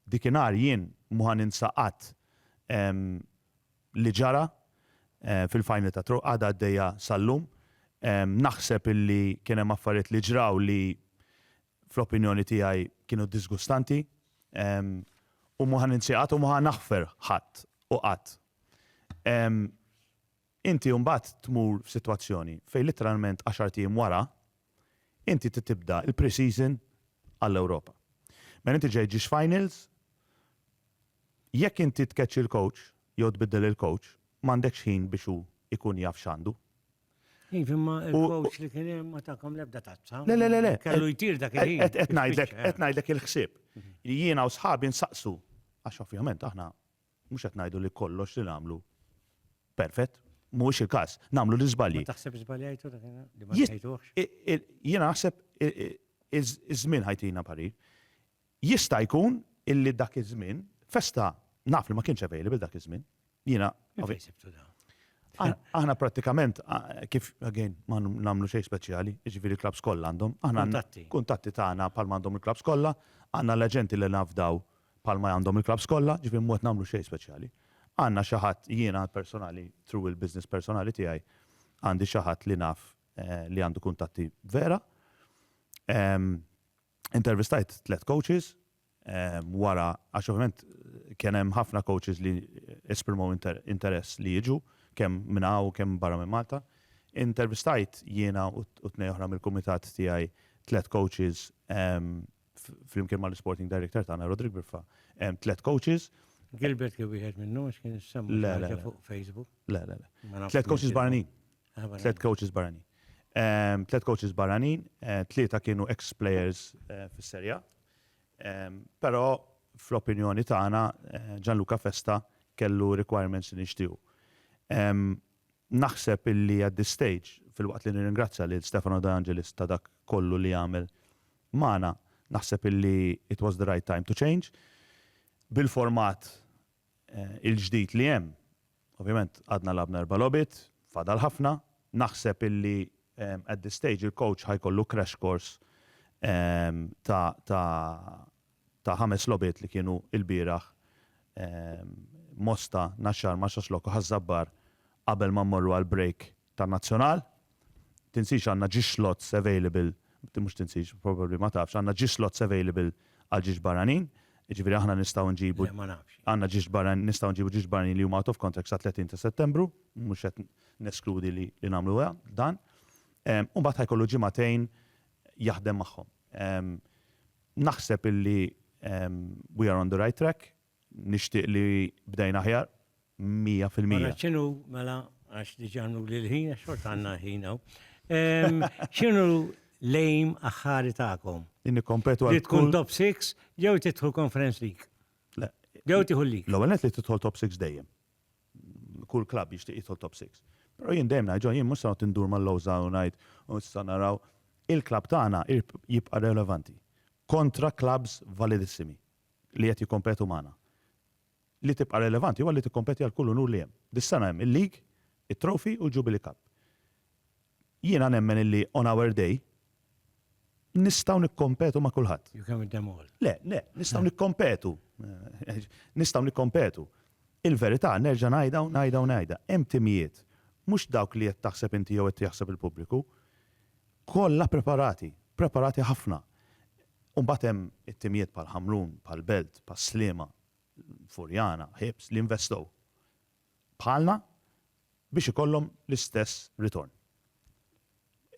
Dikinhar jien mhu ħa ninsa qatt li ġara fil-final ta' Tro għadha għaddejja sal-lum. Naħseb illi kien hemm affarijiet li ġraw li fl-opinjoni tiegħi kienu diżgustanti u mhu ħa ninsi qatt u mhu ħa naħfer ħadd u qatt. Inti mbagħad tmur f'sitwazzjoni fejn litteralment għaxart ijiem wara, inti trid tibda l-pre-season għall-Ewropa. Mela inti ġej ġiex finals, jekk inti tkeċċi l-coach jew tbiddel il-coach, m'għandekx ħin biex hu jkun jaf x'għandu. Iva, imma il-coach li kien hemm ma takom l-ebda tazza. Le, le, le, le. Kellu jtir dak il-ħin. Qed ngħidlek, qed ngħidlek il-ħsieb. Jiena u sħabi nsaqsu, għax ovvjament aħna Mhux qed ngħidu li kollox li nagħmlu perfett, mhuwiex il-każ, nagħmlu l-iżbalji. Ma taħsibx żbaljajtu dak li ma tgħidux? Jiena naħseb iż-żmien ħa jtina parir. Jista' jkun illi dak iż-żmien, festa naf li ma kienx available dak iż-żmien. Jiena. Fejn sibtu dan? Aħna prattikament kif again ma nagħmlu xejn speċjali, jiġifieri l-klabbs kollha għandhom. Aħna kuntatti tagħna bħalma għandhom il-klabbs kollha, għandna l-aġenti li nafdaw bħalma għandhom il-klabbs kollha, ġifieri mhu qed nagħmlu xejn speċjali. Għandna xi ħadd, jiena personali, through il-business personali tiegħi, għandi xi ħadd li naf li għandu kuntatti vera. Intervistajt tliet coaches wara, għax ovvjament kien hemm ħafna coaches li esprimew interess li jiġu, kemm minn hawn u kemm barra minn Malta. Intervistajt jiena u tnejn oħra mill-kumitat tiegħi tliet coaches flimkien ma' l-Sporting Director tagħna Rodrik Biffa, hemm tliet coaches. Gilbert li wieħed minnhom għax kien issemma fuq Facebook. Le, le, le. Tliet coaches barranin. Ah, tliet coaches barranin. Tliet coaches barranin, eh, tlieta kienu ex-players eh, fis-serja. Però fl-opinjoni tagħna eh, Gianluca Festa kellu requirements li nixtiju. Naħseb illi at this stage, fil-waqt li nirringrazzja lil Stefano De Angelis ta' dak kollu li għamel magħna, naħseb illi it was the right time to change. Bil-format il-ġdid li hemm, ovvjament għadna lagħbna erba' logħbiet, fadal ħafna, naħseb illi at this stage il-coach ħa jkollu crash course ta' ħames logħbiet li kienu ilbieraħ Mosta, Naxxar, Marsaxlokk u Ħaż-Żabbar qabel ma mmorru għall-break tan-Nazzjonal. Tinsiex għandna ġiex slots available, mhux tinsiex, probably ma tafx, għandna ġiex slots available għal ġiex barranin, jiġifieri aħna nistgħu nġibu. Le ma nafx. Għandna ġiex barranin, nistgħu nġibu ġiex barranin li huma out of contract sat-30 ta' Settembru, mhux qed neskludi li nagħmlu dan. U mbagħad ħajkollu ġimagħtejn jaħdem magħhom. Naħseb illi we are on the right track. Nixtieq li bdejna aħjar, mija fil-mija. Ara x'inhu, mela, għax diġà għamluli l-ħin, għax xorta għandna ħin hawn. X'inhu l-aim aħħari tagħkom? Li nikkompetu għal. Li tkun top six jew tidħol Conference League? Le. Jew tieħu l-league? L-ewwel nett li tidħol top six dejjem. Kull klabb jixtieq jidħol top six. Però jien dejjem ngħid, jien mhux se noqgħod indur mal-lowża u ngħid u issa naraw. Il-klabb tagħna jibqa' relevanti kontra klabbs validissimi. li qed jikkompetu magħna. Li tibqa' relevanti huwa li tikkompeti għal kull unur li hemm. Dis-sena hemm il-League, it-Trophy u l-Jubilee Cup. Jiena nemmen illi on our day nistgħu nikkompetu ma' kulħadd. You can win them all. Le, le, nistgħu nikkompetu. Nistgħu nikkompetu. Il-verità nerġa' ngħidha u ngħidha u ngħidha, hemm timijiet, mhux dawk li qed taħseb inti jew qed jaħseb il-pubbliku, kollha preparati, preparati ħafna. U mbagħad hemm it-timijiet bħal Ħamrun, bħal Belt, bħal Sliema, Furjana, Ħiebs li investow bħalna biex ikollhom l-istess ritorn.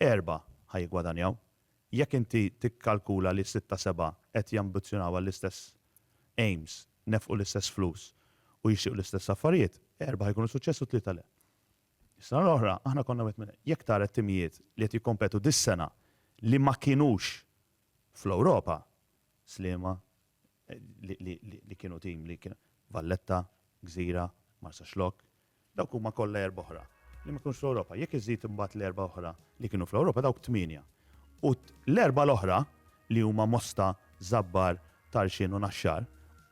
Erbgħa ħa jiggwadanjaw. Jekk inti tikkalkula li sitta, sebgħa qed jambizzjonaw għall-istess aims, nefqu l-istess flus u jixtiequ l-istess affarijiet, erbgħa ħa jkunu suċċess u tlieta le. Is-sena l-oħra aħna konna wieħed minn jekk tara t-timijiet li qed jikkompetu dis-sena li ma kinux fl-Ewropa, Sliema li kienu tim li kien Valletta, Gżira, Marsaxlokk, dawk huma kollha erbgħa oħra li ma kinux fl-Ewropa. Jekk iżżid imbagħad l-erbgħa oħra li kienu fl-Ewropa dawk tmienja. U l-erbgħa l-oħra li huma Mosta, Żabbar, Tarxien u Naxxar,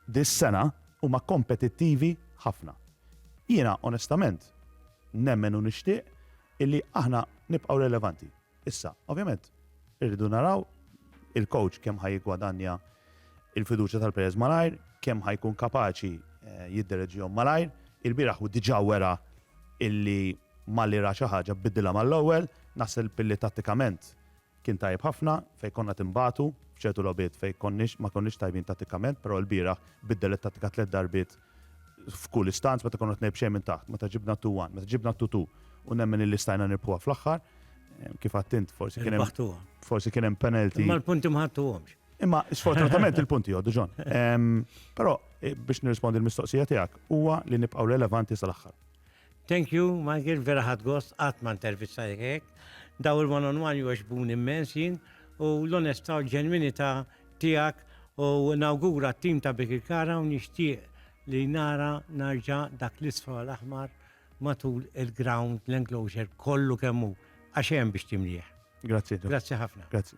dis-sena huma kompetittivi ħafna. Jiena onestament nemmen u nixtieq illi aħna nibqgħu relevanti. Issa, ovvjament, irridu naraw il-coach kemm ħa jiggwadanja il-fiduċja tal-players malajr, kemm ħa jkun kapaċi eh, jiddereġihom malajr. Il-biraħ u diġà wera illi malli ra xi ħaġa bidilha mal-ewwel, naħseb billi tattikament Kien tajjeb ħafna fejn konna tinbagħtu f'ċertu logħbiet fejn konniex ma konniex tajbin tattikament però lbieraħ biddel it-tattika tliet darbiet f'kull istanz meta konna qed ngħid b'xejn minn taħt meta ġibna t-two one meta ġibna t-two two u nemmen illi stajna nirbħuha fl-aħħar kif għadt int forsi kien hemm forsi kien hemm penalty. Imma l-punti ma ħadtuhomx. Imma sfortunatament il-punti jgħoddu ġon. Però biex nirrispondi l-mistoqsija tiegħek huwa li nibqgħu relevanti sal-aħħar. Thank you, Michael, vera ħad gost qatt ma intervistajek hekk. Daw il-one on one jogħġbun immens jien u l-onestà u l-ġenwinità tiegħek u nawgura t-tim ta' Bik il-Kara u nixtieq li nara narġa' dak l-isfra l-aħmar matul il-ground l-enclosure kollu kemm hu għax hemm biex timlih. Grazzi. Grazzi ħafna. Grazzi.